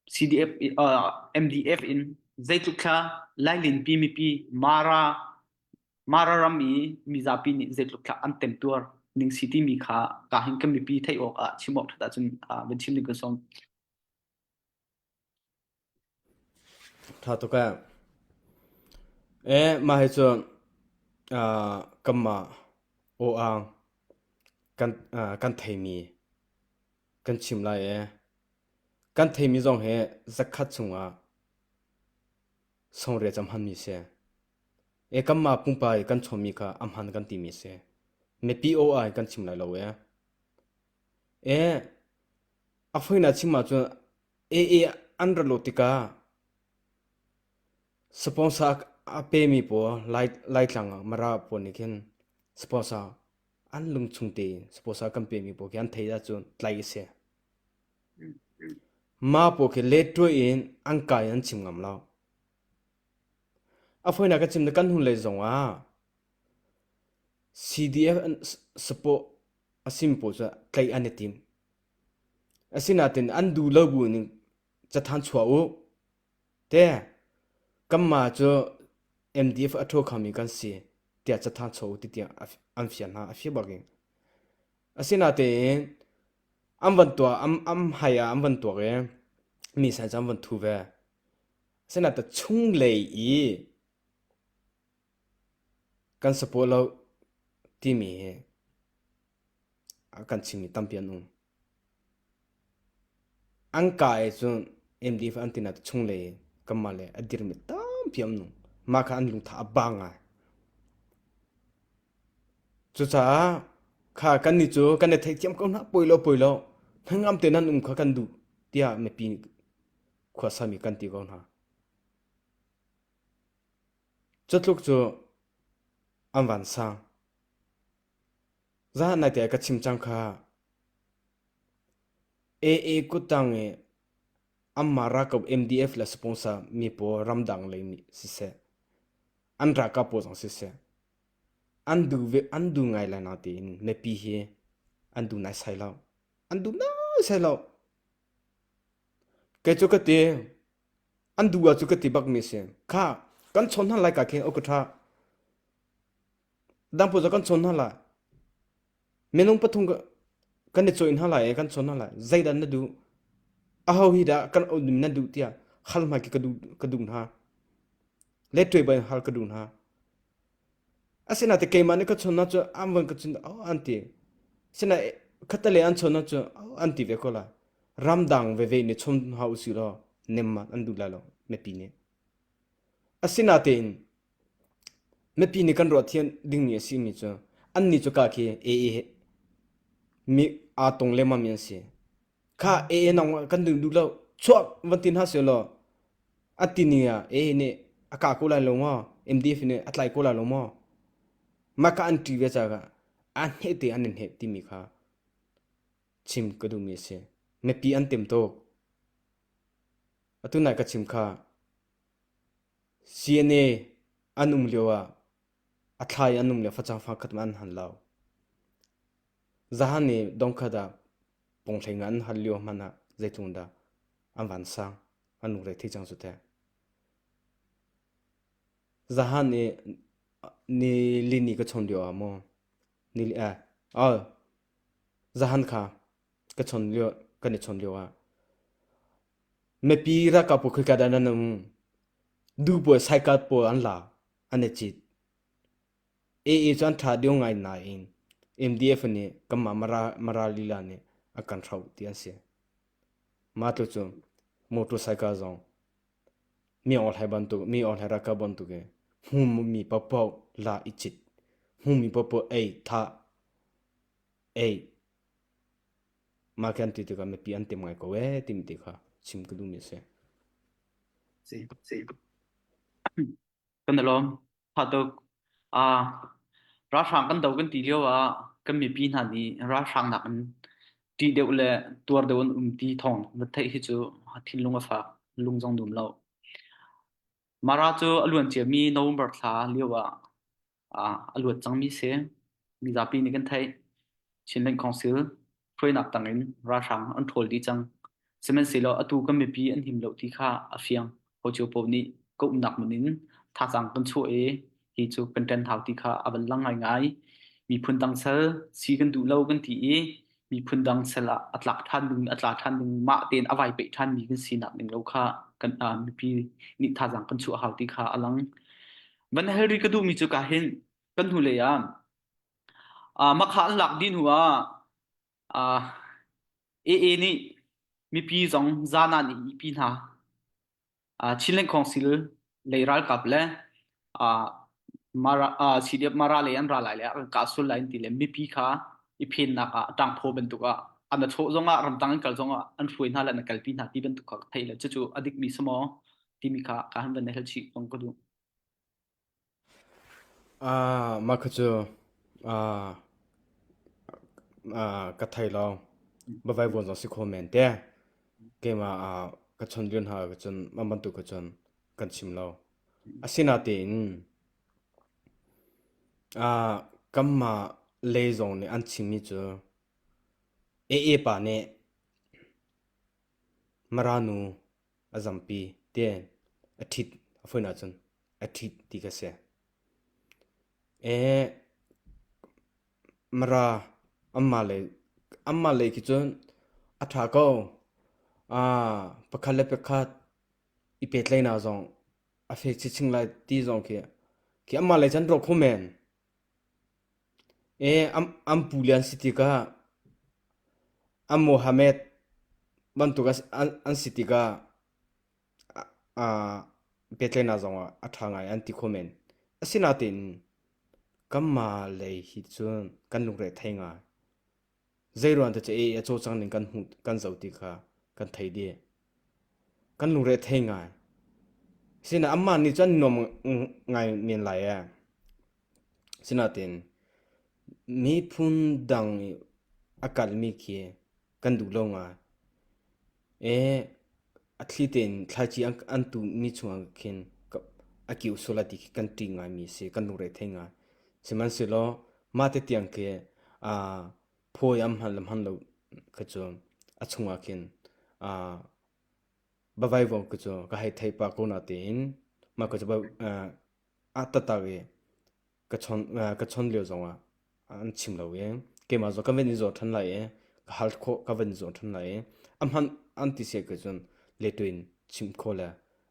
CDF uh, MDF in zeitluk thla lailinpi mipi Mara Mara ram i mizapi nih zeitluk thla an temtuar ning si timi kha ka hin kan mipi theih awk ah chim awk that ahcun uh, van chim ning kan sawm. Ṭha tuk ee. Mah hi cu kanmah aw-aang kan theimi kan chim lai i kan theimi zong hi zakhat chungah sungriat cu a hmanmi a si. Kanmah pumpak i kan chawnmi kha a hman kan timi a si. Mipi aw-aang hi kan chim lai lo ee. A fawinak chim ahcun Ee an ra lut tikah sponsor a pemi pawl Laitlang ah Mara pawl nih khin sponsor an lungchung tein sponsor kan pemi pawl khi an theih ahcun tlaih a si. Mah pawl khi let ṭuah in an ka in an chim ngam lo. A fawinak ka chim le kan hnulei zongah CDF sport a sim pawl cu tlaih an i tim. Asinain an duh lo buin cathanh chuah u. Kanmah cu MDF a ṭhaw khomi kan si tiah cathanh chuah u tiah an fial hna a fiang bakin. Asinain an van tuah an hmai ah an van tuak i mi san cu an van ṭhu ve. Asinain chunglei i kan support lo timi hi kan chingmi tampi an um. An ka e cun MDF an tina chunglei kanmah le a dirmi tampi an um. Mah kha an lungtha a ba ngai. Cucaah kha kannih cu kan i theithiam ko hna poi lo poi lo. Hnangam te nan um kha kan duh tiah mipi nih khuasami kan ti ko hna. Cutluk cu an van sang. Zah naite ah ka chim cang kha. AA kuttang i anmah ralkap MDF le sponsor mi pawl ramdang lei nih siseh, an ralkap pawl zong siseh, an duh ve, an duh ngai lai natein mipi hi an duh naisai lo. An duh naisai lo. Kei cu ka ti, an duh ah cu ka ti bak mi a si. Kha, kan chawn hna lai ka khin, uk ka ṭha. Dangput cu kan chawn hna lai. Minung pathum kan i cawih hna lai i kan chawn hna lai. Zeidah na duh? Aho hi dah kan auhmi nan duh tiah hal hmai khi ka duh, ka duh hna. Le ṭuai bang hal ka duh hna. Asinain keimah nih ka chawn hna cu an van ka cun "Aw" an ti. Asinain khatte an chawn hna cu "Aw" an ti ve ko lai. Ramdang veve nih chawm hna usih law nem mat an duh lai lo mipi nih. Asinain Mipi nih kan ruah thiam dingmi a simi cu annih cu ka khi AA mi aa tong lengmangmi an si. Kha AA nang kan duh duh lo chuak van ti hna seh law a tining ah AA nih a kah ko lai lo maw MDF nih a tlai ko lai lo maw mah kha an ṭih ve caah an hneh te an i hneh timi kha chim ka duhmi a si. Mipi an tem tuk. Atu nai ka chim kha. CNA an um lio ah a thla i an um lio facang fang khat mah an han lau. Zahan i dongkhat ah ponghleng ah an hal lio hmanh ah zeitlung dah an van sang an lung rei thei cang cu teh. Zahan i ni li ni ka chon lio ah maw ni li eh oh zahan kha ka chon lio kan i chon lio ah Mipi ralkap pawl khoika dah nan um? Duh pawl saikal pawl an lak, an i cit. AA cu an ṭha deuh ngai nain MDF nih kanmah Mara lila nih a kan hroh ti an si. Mah tu cu motor saikal zong mi awhlai bantuk, mi awhlai ralkap bantuk i hmumi paohpaoh la i cit. Hmumi paohpaoh ei, thah, ei. Mah khi an ti tikah mipi an tim ngai ko ee timi ti kha chim ka duhmi a si. Kan i lawm. Hatuk. Ah, ralhrang kan do kan ti lio ah kan mipi hna nih ralhrang nak in ṭih deuh le tuar deuh an um ti thawng va theih hi cu thinlung a fak, lung zong dum lo. Mara cu a luan ciami November thla lio ah ah a luat cangmi si. Mizapi nih kan theih. Chin Land Council hruainak tangin ralhrang an ṭhawl dih cang. Sihmanhsehlaw atu kan mipi an him lo ti kha a fiang. Hocio paoh nih ka umnak mun in thazaang kan chuah i hi cu kan ṭan hau ti kha a van lang ngaingai. Miphun dang sal si kan duh lo kan ti i miphun dang sel ah a tlak ṭhan ding a tla ṭhan ding mah tein a vai peih ṭhanmi kan sinak ning lo kha kan ah, mipi nih thazaang kan chuah hau ti kha a lang. Van Hellry ka duhmi cu ka hin kan hnu lei ah uh, makha an lak din hua uh, AA nih mipi zong zana nih mipi hna Ah, Chinland Council lei ralkap le ah Mara ah CDF Mara lei an ra lai le an kah sul lai an ti le mipi kha i phennak ah ṭangphaw bantuk ah an a chawh zongah ramtang in kal zongah an hruai hna le an a kalpi hna ti bantuk kha ka theih le cucu a dikmi si maw timi kha ka han van i hal chih zong ka duh. Mah kha cu ka thei lo. Va vaivuan zong a si kho men te. Keimah ka chawnhbion hna ahcun cun mah bantuk kha cun kan chim lo. Asinain kanmah lei zong nih an chimmi cu AA pa nih Mara nu A zampi ten a ṭhit a fawn ahcun a ṭhit ti ka si. Ee, mara amah lei amah lei khi cun a ṭha ko. Ah, pakhat le pakhat i pehtlaihnak zong a fek chinchin lai ti zong khi khi amah lei cun rawk hum men. An pule an si tikah an Mohammed bantuk an si tikah biatlainak zongah a ṭha ngai an ti kho men. Asinain kanmah lei hi cun kan lungre a thei ngai. Zeiruang te ceh i a cawcang ning kan hmuh kan zoh ti kha kan thei dih. Kan lungre thei ngai. Sina amah nih cun nuam ngai men lai ee. Sinain miphun dang i a kalmi khi kan duh lo ngai. A thli tein thlaici an tuhmi chungah khin a kio sual a ti khi kan ṭih ngaimi a si, kan lungre thei ngai. Sihmanhsehlaw mah tetiang khi phawi am hmanhlam lo khi cu a chungah khin va vaivung khi cu ka hei theih pah ko natein mah khi cu tatak i. ka chon ka chon lio zongah an chim lo i keimah zaw ka van i zaw ṭhan lai i ka hal khawh ka van i zaw ṭhan lai i a hman an ti siah cun letu in chim khawh le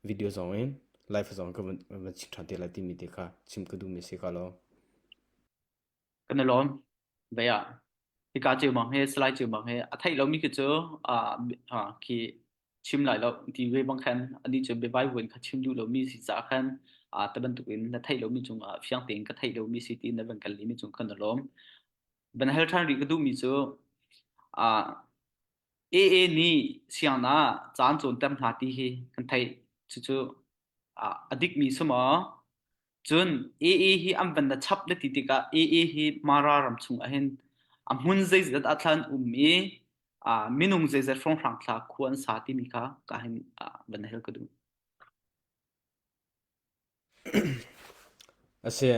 video zong in live zong ka van van chim ṭhan te lai timi te kha chim ka duhmi a si ka lawm. Kan i lawm. Vậy à, hika chiều bang he slide chiều bang he a thei lo mi khi cu à ha khi chim lai lo ti ve bang khan ani chu bevai vuin kha chim duh lo mi si ca khan à te bantuk in na thei lo mi cung ah fiang tein ka thei lo mi si ti na van kal li mi cung khan na lawm van hal than ri ka duh mi cu à AA nih siang na caan cawn tem hna ti hi kan thei cucu à a dik mi suma Cun ee hi an van na chap le ti tikah ee hi Mara ram chungah hin a hmun zeizat ah thlan an um i uh, minung zeizat hrawnghrang thla khu an sa timi kha ka hin uh, van hel ka duh. A si.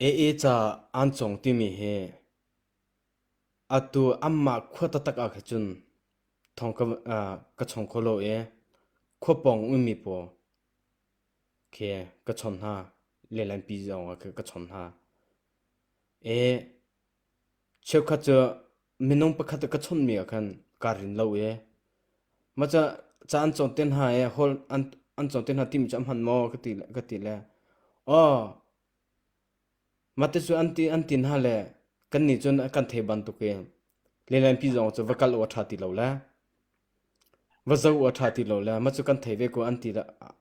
Ee ca an cong timi hi atu amma khua tatak ah kha cun thong ka, uh, ka chong kholo e khua pong ummi paw Khe ka chawnh hna, lehlanpi zong ah khe ka chawnh hna. Cheukhat cu minung pakhat ah ka chawnhmi ah khan kaa rin lo i mah cu ca an cawn te hna i hol an cawn te hna timi cu a hman maw ka ti le ka ti le aw Mate cu an ti an tin hna le kannih cun a kan thei bantukin lilenpi zong cu va kal u a ṭha ti lo le va zoh u a ṭha ti lo le ma cu kan thei ve ko an ti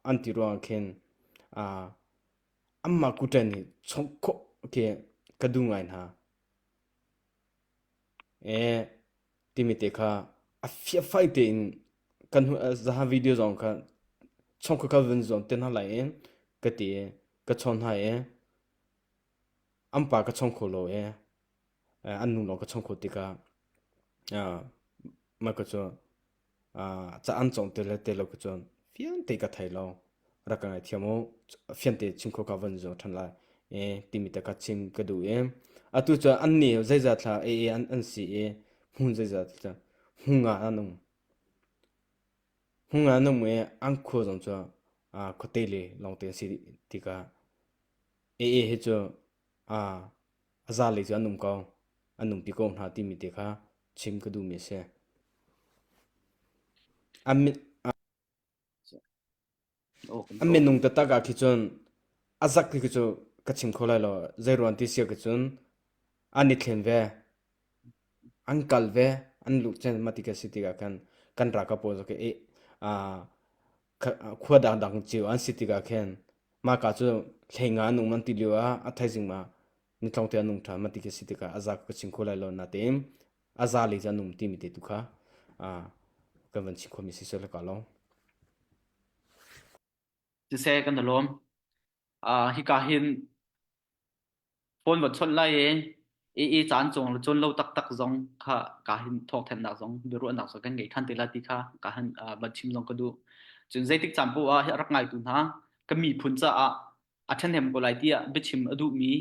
an ti ruangah khin anmah kutṭen nih chawnh khawh khi ka duh ngai hna. Ee, timi te kha a fiahfai tein kan hnu ah zaha video zong kha chawng kha ka vun zuam te hna lai i ka ti i ka chawn hna i an pa ka chawng kho lo i an nu lawng ka chawng kho tikah mah cu Ca-an cawng te le te lo cucun fiante ka thei lo. Rak ka ngaihthiam u. Fiante chim khawh ka van zung ṭhan lai i timi te kha chim ka duh i atu cu an ni zeizat hlah ei an an si i hmun zeizat hlah hung ah an um. Hung ah an um i an khua zong cu khuate le lawngte an si ti kha ei hi cu A zalei cu an um ko, an nungpi ko hna timi te kha chim ka duhmi a si. A minung taktak ah khi cun a zak khi cu ka chim kho lai lo. Zei ruang ti si ah khi cun an i thlen ve, an kal ve, an luh cen ma ti ka si tikah khan kan ral ka pawl cu ka ih. khua dangdang cio an si tikah khin mah ka cu hleinga an um an ti lio ah a thaizing ah nitlong te an um ṭhan mah ti khi a si tikah a za ka chim kho lai lo natein a za lei cu an um timi te tu kha kan van chim khomi si sel ka lo. Siseh kan i lawm. Hika hin Phone va chawnh lai i i i caan cung cun lo taktak zong kha ka hin thawhthannak zong biaruahnak zong kan ngei ṭhan te la ti kha ka han uh, van chim zong ka duh. Cun zeitik caan poh ah hi a rak ngaitu hna ka miphun caah a ṭhahnem ko lai tiah biachim a duhmi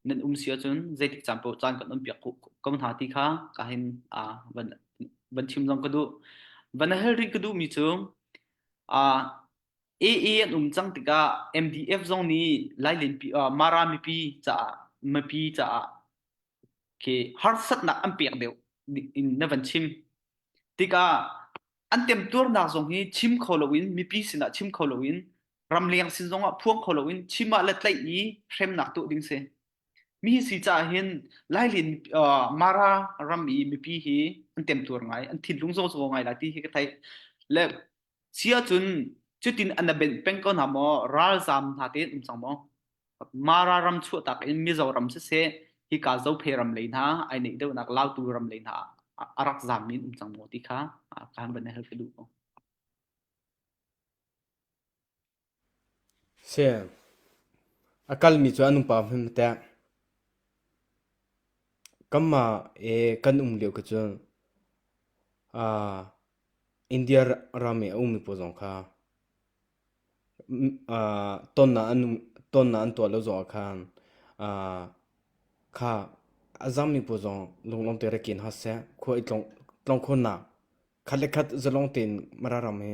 nan um si ahcun zeitik caan poh caan kan on piak ko hna ti kha ka hin uh, van van chim zong ka duh. Van a hal rih ka duhmi cu uh, AA an um cang tikah MDF zong nih lailenpi Mara mipi caah mipi caah khi harsatnak an pek deuh in na van chim tikah an temtuarnak zong hi chim kho loin mipi sinah chim kho loin ramleng sin zongah phuang kho loin chim ah le tlaih i hremnak tuah ding si mi si caah hin lailin mara ram i mipi hi an temtuar ngai an thinlung zo zo ngai la ti hi ka theih le Si ahcun cutin an na benh peng ko hna maw ralzaam hna tein um cang maw mara ram chuahtak in mizo ram siseh hika zophe ram lei hna ai neih deuhnak lautu ram lei hna a rak zaam min um cang maw ti kha kan van help ka duh ko A kalmi cu an upa hmanh a tengh. Kanmah i kan um lio khi cun India ram i a ummi pawl zong kha tonnak an tuah lo zongah khan kha a zammi pawl zong lunglawmte ra ken hlah seh, khua i tlawng khawhnak. Khat le khat zalong tein Mararam hi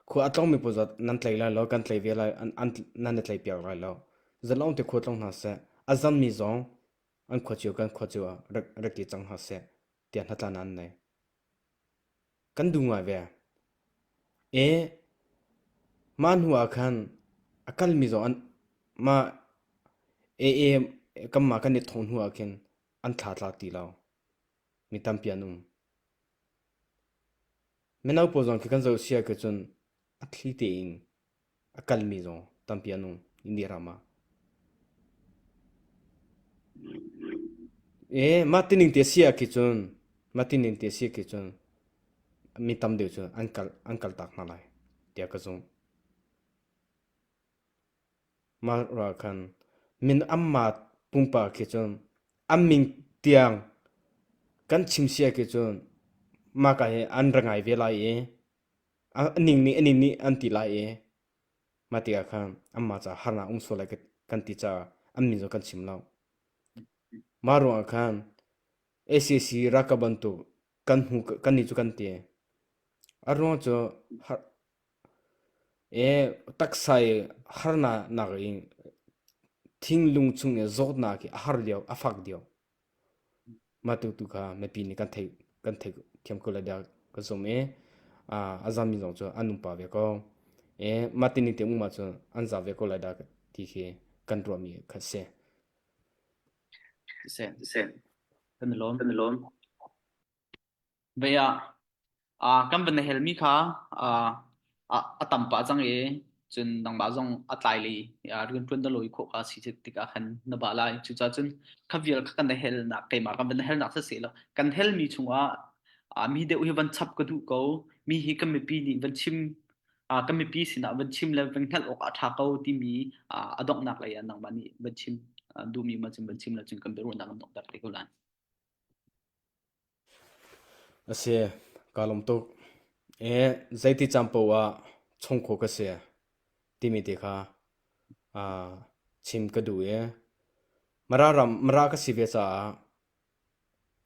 khua a tlongmi pawl zat nan tlei lai lo, kan tlei ve lai, an, an, nan i tlei piak lai lo. Zalong te khua tlong hna seh, a zammi zong an khua cio kan khua cio ah rak, rak ti cang hna seh, tiah hna tlan an nei. Kan du ngai ve. E, ma hnu ah khan a kalmi zong an, ma e, e, kan ma kan i thong hnu ah khin an thla tla ti lo. Mi tampi an um. Mino pawl zong khi kan zoh si ahcun cun a thli tein a kalmi zong tampi an um Indi ram ah. Ee mah tining te si ahkhi cun mah tining te si ahkhi cun mi tam deuh cu an kal an kal tak hna lai tiah ka zumh. Malra khan min-amma pumpak he cun an min tiang kan chim si ah khin cun mahka hi an ra ngai ve lai i a ning nih a ning nih an ti lai i mah tikah khan anmah caah harnak a um sual lai kan ti caah an min cu kan chim lo. Mah ruangah khan sac ralkap bantuk kan hnu kan nih cu kan ti. A ruang cu har Taksai harnak nakin thinlung chung i zawtnak hi a har lio, a fak lio. Mah tuk tu kha mipi nih kan theih, kan theih thiam ko lai dah ka zum i a zam mi zong cu an um pah ve ko. Mah ti ning te um ahcun an zam ve ko lai dah ti khi kan ruah mi kha a si. Si, si. Kan i lawm, kan i lawm. Vei ah ah kan van na helmi kha ah ah a tam pah cang i cun nangmah zong a tlailei ah rianṭuan na lawi khawh kha a si tikah khan na bah lai. Cucaah cun kha vial kha kan na helnak keimah kan van na helnak sasehlaw kan helmi chungah ah mi deuh hi van chap ka duh ko. Mi hi kan mipi nih van chim ah kan mipi sinah van chim le van hngalh awkah a ṭha ko timi ah a donghnak lei ah nangmah nih van chim ah duhmi ma cun van chim le cun kan biaruahnak an donghter te ko lai. A si, kaa lawm tuk. Ee, zeiti caan paoh ah chungkhua ka si timi te kha aa chim ka duh i Mara ram Mara ka si ve caah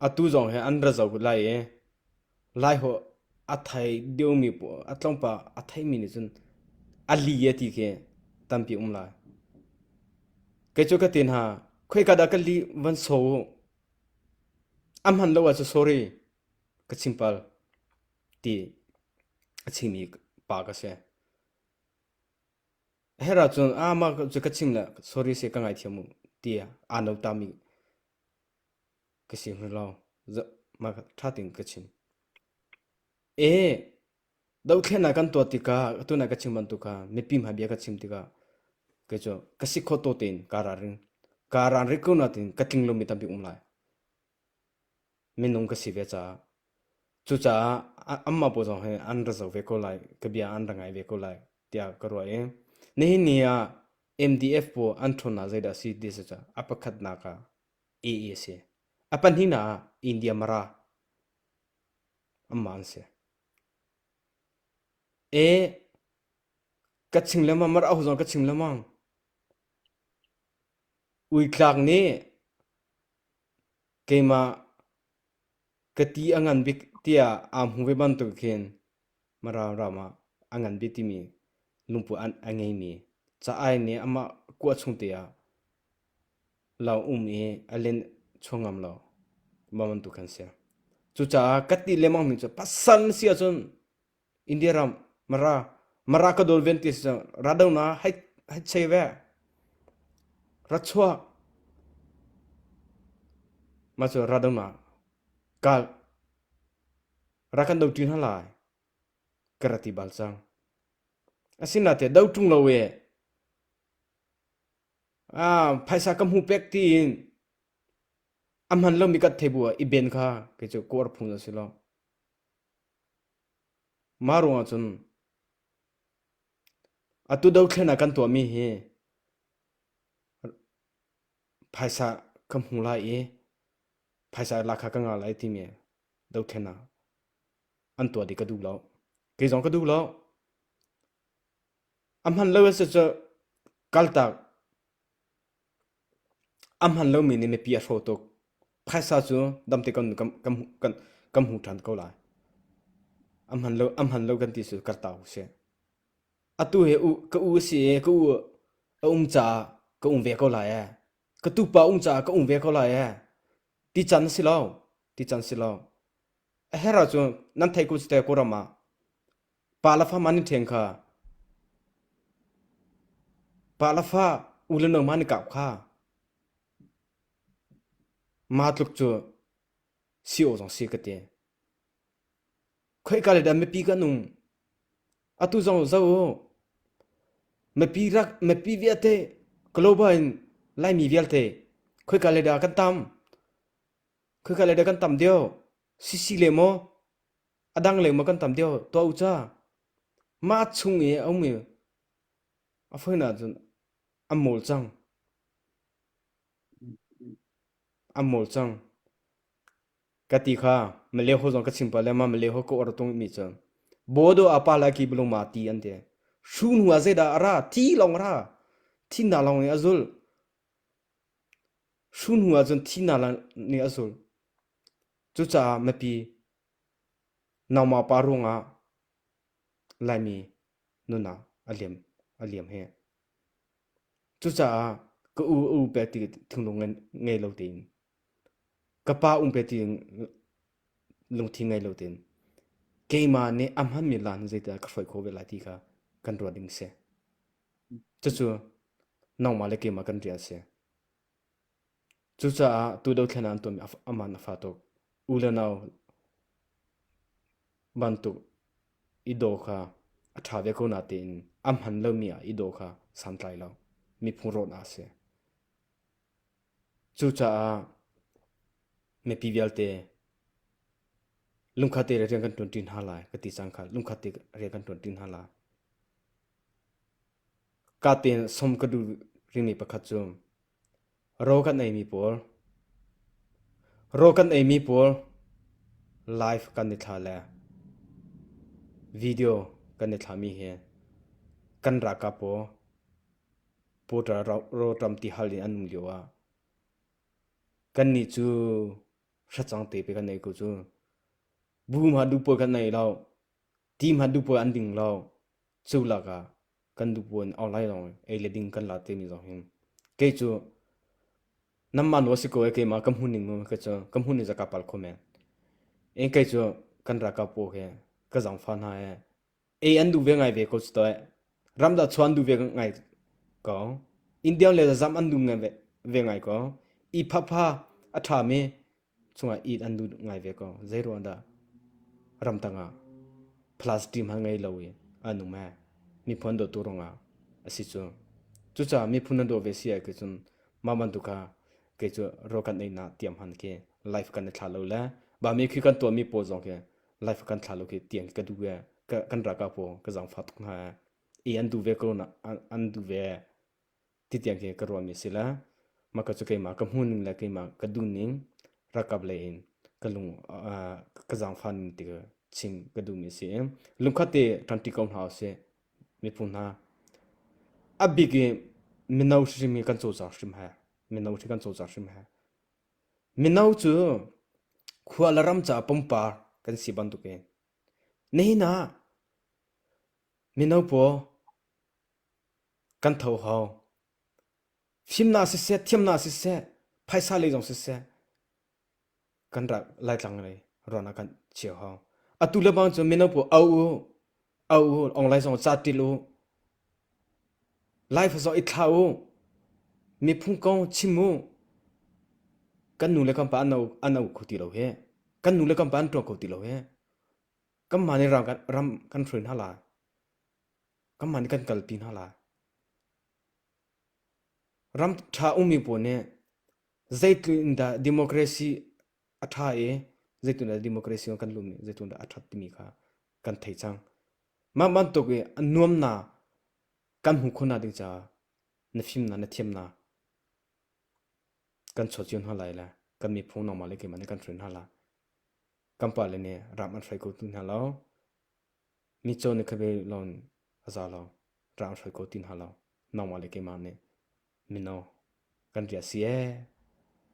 atu zong hi an ra zau lai i Laiholh a thei deuhmi paoh, a tlawmpal a theimi nih cun a li a ti khi tampi a um lai. Kei cu ka ti hna, khoika dah ka li van saw u. A hman lo ah cu sorry, ka chim pal, ti a chimmi pa ka si. Herah cun a mah cu ka chim le sorry seh ka ngaithiam u, ti aa notami ka si hmu lo. Mah ṭha tein ka chim. Dohthlennak kan tuah tikah atu na ka chim bantuk kha mipi hmai bia ka chim tikah kei cu ka si kho to tein kaa ralrin. Kaa ralrin ko nain ka tling lomi tampi um lai. Minung ka si ve caah. Cucaah amah pawl zong hi an ra zo ve ko lai. Ka bia an ra ngai ve ko lai tiah ka ruah i nihin ni ah MDF pawl an ṭhawnnak zeidah a si ti saca a pakhatnak ah Ih a si. A pahnihnak ah India Mara amah an si. E ka ching lengmang mar ahu zong ka ching lengmang. Uitlak nih keimah ka ti a ngan bik tiah aa hmu ve bantuk khin Mara ram ah a ngan bik timi lungput a ngei mi ca ai nih amah kuah chung te ah Lawng um i a linh chua ngam lo mah bantuk kan si. Cucaah ka ti lengmang mi cu pasal na si ahcun India ram Mara Mara ka dol ven ti a si cang ra do na hei hei chei ve ra chuak mah cu ra do na ka ra kan do ṭi hna lai ka ra ti bal cang. Asinain a do ṭung lo i Phaisa ka hmu pek tiin a hman lomi kan thei bu ah i ben kha kei cu ka uar phung a si lo. Mah ruang ah cun atu dothlen ah kan tuahmi hi phaisa ka hmu lai i phaisa lak kha ka ngah lai timi dothlen ah an tuah dih ka duh lo. Kei zong ka duh lo. A hman lo mi nih mipi a hraw tuk. Phaisa cu dam te kan hmu ṭhan ko lai. A hman lo kan ti cu kar ta usih. Atu hi ka u a si i ka u a um caah ka um ve ko lai ee. Ka tupa um caah ka um ve ko lai ee. Ti can a si lo. Ti can a si lo. A herh ahcun nan theih ku cu te Kawlram ah Pa u le nau man i kap kha ma tluk cu si awh zong si ka ti. Khoika le dah mipi kan um? Atu zong zoh u. Mipi rak mipi viate global in Laimi vialte khoika le dah kan tam? Khoika le dah kan tam deuh? Sisi le maw, a dang le maw kan tam deuh tuah u ca. Mah chung i a um i a foinak cun an mawl cang. An mawl cang. Ka ti kha Malay zong ka chim pah le ma Malay ka ar tung mi cu Bodo apa la ki bulung ma ti an ti. Shu nu a zeidah a ra? Ti lawng a ra. Thinna lawng in a zul. Hru hnu ahcun thihnak nih a zul. Cucaah mipi nangmah pa ruangah Laimi nunnak a liam a liam hi. Cucaah ka u a um pe ti thinglung ngei lo tein, ka pa um pe ti lungthin ngei lo tein, keimah nih a hmanmi laan zeidah ka hruai khawh ve lai ti kha kan ruah ding a si. Cucu nangmah le keimah kan rian a si. Cucaah tu dothlennak an tuahmi a man a fa tuk. U le nau bantuk i daw kha a ṭha ve ko na tein a hman lomi ah i daw kha santlai lo. Miphung rawhnak a si. Cucaah mipi vialte lungkhatte rian kan ṭuanṭi hna lai ka ti cang khal. Lungkhatte rian kan ṭuanṭi hna lai. Ka tein sawm ka duh ringmi pakhat cu ro kan eimi pawl, ro kan eimi pawl live kan i thlah le video kan i thlahmi hi kan ralkap pawl Portal rawlṭam ti hal in an um lio ah kannih cu hracang tepe kan ei ko cu. Bu hmanh duh paoh kan ei lo, ti hmanh duh paoh an ding lo. Cu lakah kan duhbuan awk lai lawng ei le ding kan la timi zong hin kei cu nanmah nu a si ko e keimah ka hmun in mu ka cu ka hmun in zaka pal kho men. In kei cu kan ralkap pawl he ka zangfa hna he ei an duh ve ngai ve ko cu toh eh. Ram dah chuah an duh ve ngai ko. Indian le zazam an duh ngai ve, ve ngai ko. I phapha a ṭhami cungah it an lut ngai ve ko zeiruahdah ramtang ah plastic hmanh ngei lo in an um ee miphun dawtu rungah asi cu cucaah miphun nan daw ve si ai cun mah bantuk kha kei cu ro kan ei na tiam han khi life kan i thla lo le ba mi khi kan tuah mi pawl zong khi life kan thla lo khi tiang ka duh ee kan ra ka pawl ka zang fa tuk hna ee i an duh ve ko na an duh ve ti tiang khi ka ruah mi si la mah ka cu keimah ka hmu ning le keimah ka duh ning rakap lei in ka lung ka zaangfa ning ti chim ka duh mi si lungkhat te ṭanṭi ko hna usih miphun hna a bik i mino hrim hi kan cawlcang hrim he mino khi kan cawlcang hrim he mino cu khua le ram ca pumpak kan si bantuk in nihin ah mino pawl kan tho hau. Fimnak siseh, thiamnak siseh, phaisa lei zong siseh, kan rak laitlang lei ruan ah kan cheu hau. Atu le bang cu mino pu au u, au u, online zong ca til u. Life zong i thla u. Miphung kong chim u. Kan nu le kan pa an au, an au kho ti lo he. Kan nu le kan pa an ṭuan kho ti lo he. Kan mah nih ram kan, ram kan hruin hna lai. Ka man kan kalpi hna lai. Ram ṭha ummi pawl nih zeitluk in dah democracy a ṭha i zeitluk in dah democracy kan lut i zeitluk in dah a ṭhat timi kha kan thei cang. Mah bantuk i a nuamnak kan hmuh khawh nakding caah na fimnak, na thiamnak kan chuah cio hna lai le kan miphung nangmah le keimah nih kan hruai hna lai. Kan pale nih ram an hruai ko ti hna lo. Mitcaw nih khabe lawng a za lo, raang hrawi ko ti hna lo. Nangmah le keimah nih mino kan riah si ee,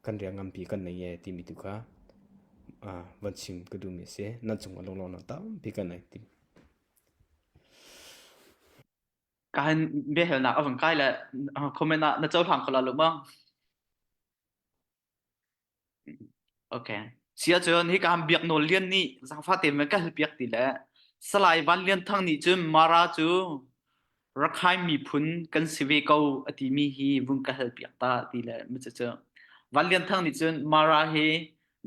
kan riah nganpi kan nei ee timi tu kha van chim ka duhmi a si. Nan cungah lawnglawng nan tampi kan nei ti. Kahin biahalnak a vung kai le comment ah na cohlang kho la lu maw? Okay. Siahcun hika han biak nawl lian nih zaangfah tein me ka hal piak ti le Salai Van Lian Thang nih cun Mara cu Rakhine miphun kan si ve ko a timi hi vung ka hal piak ta ti le mi cu Van Lian Thang nih cun Mara hi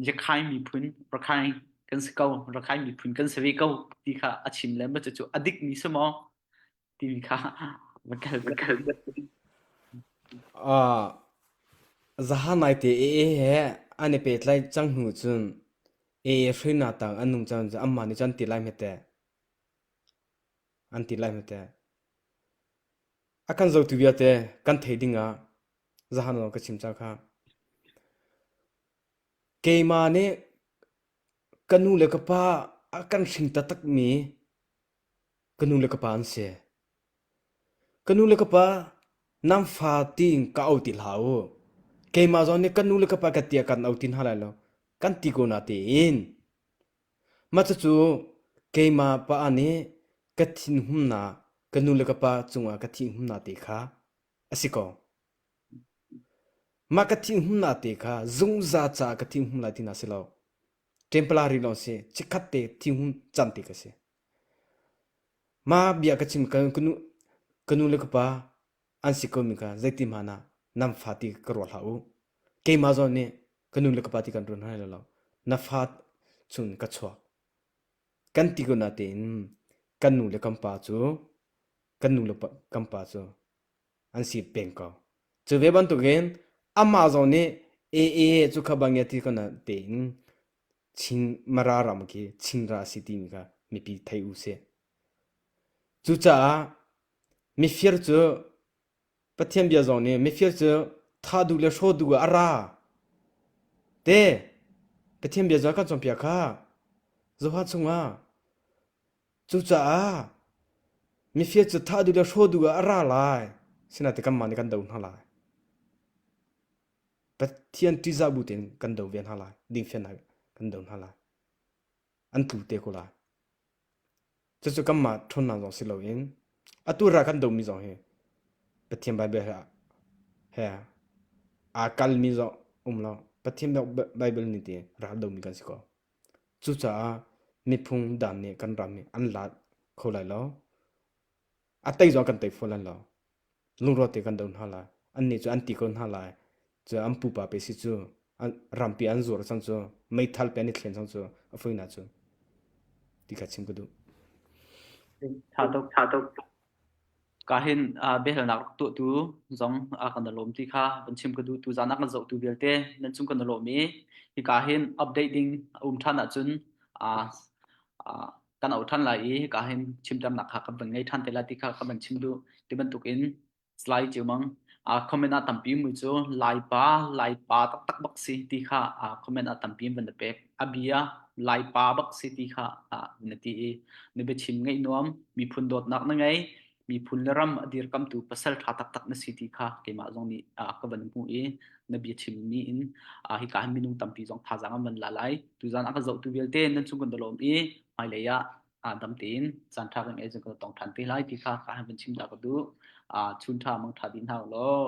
Rakhine miphun Rakhine kan si ko Rakhine miphun kan si ve ko ti kha a chim le mi cu a dik mi si maw? Timi kha va kal va kal. Ah, zahanai te ee he an i petlai cang hnu cun ee hruina tang an nung cang cun amma nih cun an ti lai hmete an ti lai hmete a kan zotu vialte kan thei ding ah zahan lo ka chim cha kha keima nih ka nu le ka pa a kan hring tatak mi Ka nu le ka pa an si. Ka nu le ka pa nan fa tiin ka au ti hlah u. Keimah zong nih kan nu le ka pa ka tia kan au ti hna lai lo. Kan ti ko na tiin. Mah cucu keimah pa nih ka thinhunnak ka nu le ka pa cungah ka thinhunnak te kha a si ko. Mah ka thinhunnak te kha zungzal caah ka thinhun lai ti na si lo. Tempala ri lo si chikhat te thingum can te ka si. Ma bia ka chim ka kanu kanu le kapa an si ko mi ka zeiti ma na nam fa ti ka ro hla u. Keima zawn nih kanu le kapa ti kan run hai lo lo na fa chun ka chuak. Kan ti ko na tein kan nu le kan pa cu kan nu le pa, kan pa cu an si peng ko. Cu ve bantukin amah zong nih AA cu kha bangya ti kana tein Chin Mara ram khi Chinra a si timi kha mipi thei u sih. Cucaah mifir cu Pathian bia zong nih mifir cu tha duh le hraw duh ah a ra te Pathian bia zong kan cawnpiak kha Zoha chungah Cucaah mifia cu thah duh le hraw duh ah a ra lai. Sinain kanmah nih kan do hna lai. Pathian ṭihzah bu tein kan do ve hna lai. Dingfiannak kan do hna lai. An tlu te ko lai. Cucu kanmah ṭhawnnak zong si loin atu ra kan domi zong hi Pathian Baibal he, he aa kalmi zong um lo Pathian Baibal nih ti rak domi kan si ko. Cucaah miphung daan nih kan ram hi an laat kho lai lo. A tei zong kan tei fawn lai lo. Lungrual te kan do hna lai. Annih cu an ti ko hna lai. Cu an pupa pe si cu rampi an zuar cang cu meithal pe an i thlen cang cu a fuina cu ti kha chim ka duh. Ṭha tuk, ṭha tuk. Ka hin ah biahalnak tuahtu zong a kan i lawm ti kha van chim ka duh. Tuzaan a kan zohtu vialte nan cung kan i lawm i hika hin update ding a um ṭhan ahcun aa aa kan auh ṭhan lai i hika hin chimṭamnak kha kan van ngei ṭhan te lai ti kha ka van chim duh. Ti bantukin slide ciammang aa comment a tampi mu cu Laipa, Laipa taktak bak si ti kha aa comment a tampi in van i pek. a bia Laipa bak si ti kha na ti i na biachim ngaih nuam miphun dawtnak na ngei miphun le ram a dirkamtu pasal ṭha taktak na si ti kha keimah zong nih ka van hmu i na bia chimmi in hi ka han minung tampi zong thazaang an van la lai tuzan a ka zohtu vialte nan chung kan dolom i hmailei ah dam tein caan ṭha kan ei zong kan tong ṭhan te lai ti kha ka han van chim ta ka duh chun ṭha mang ṭha din hau law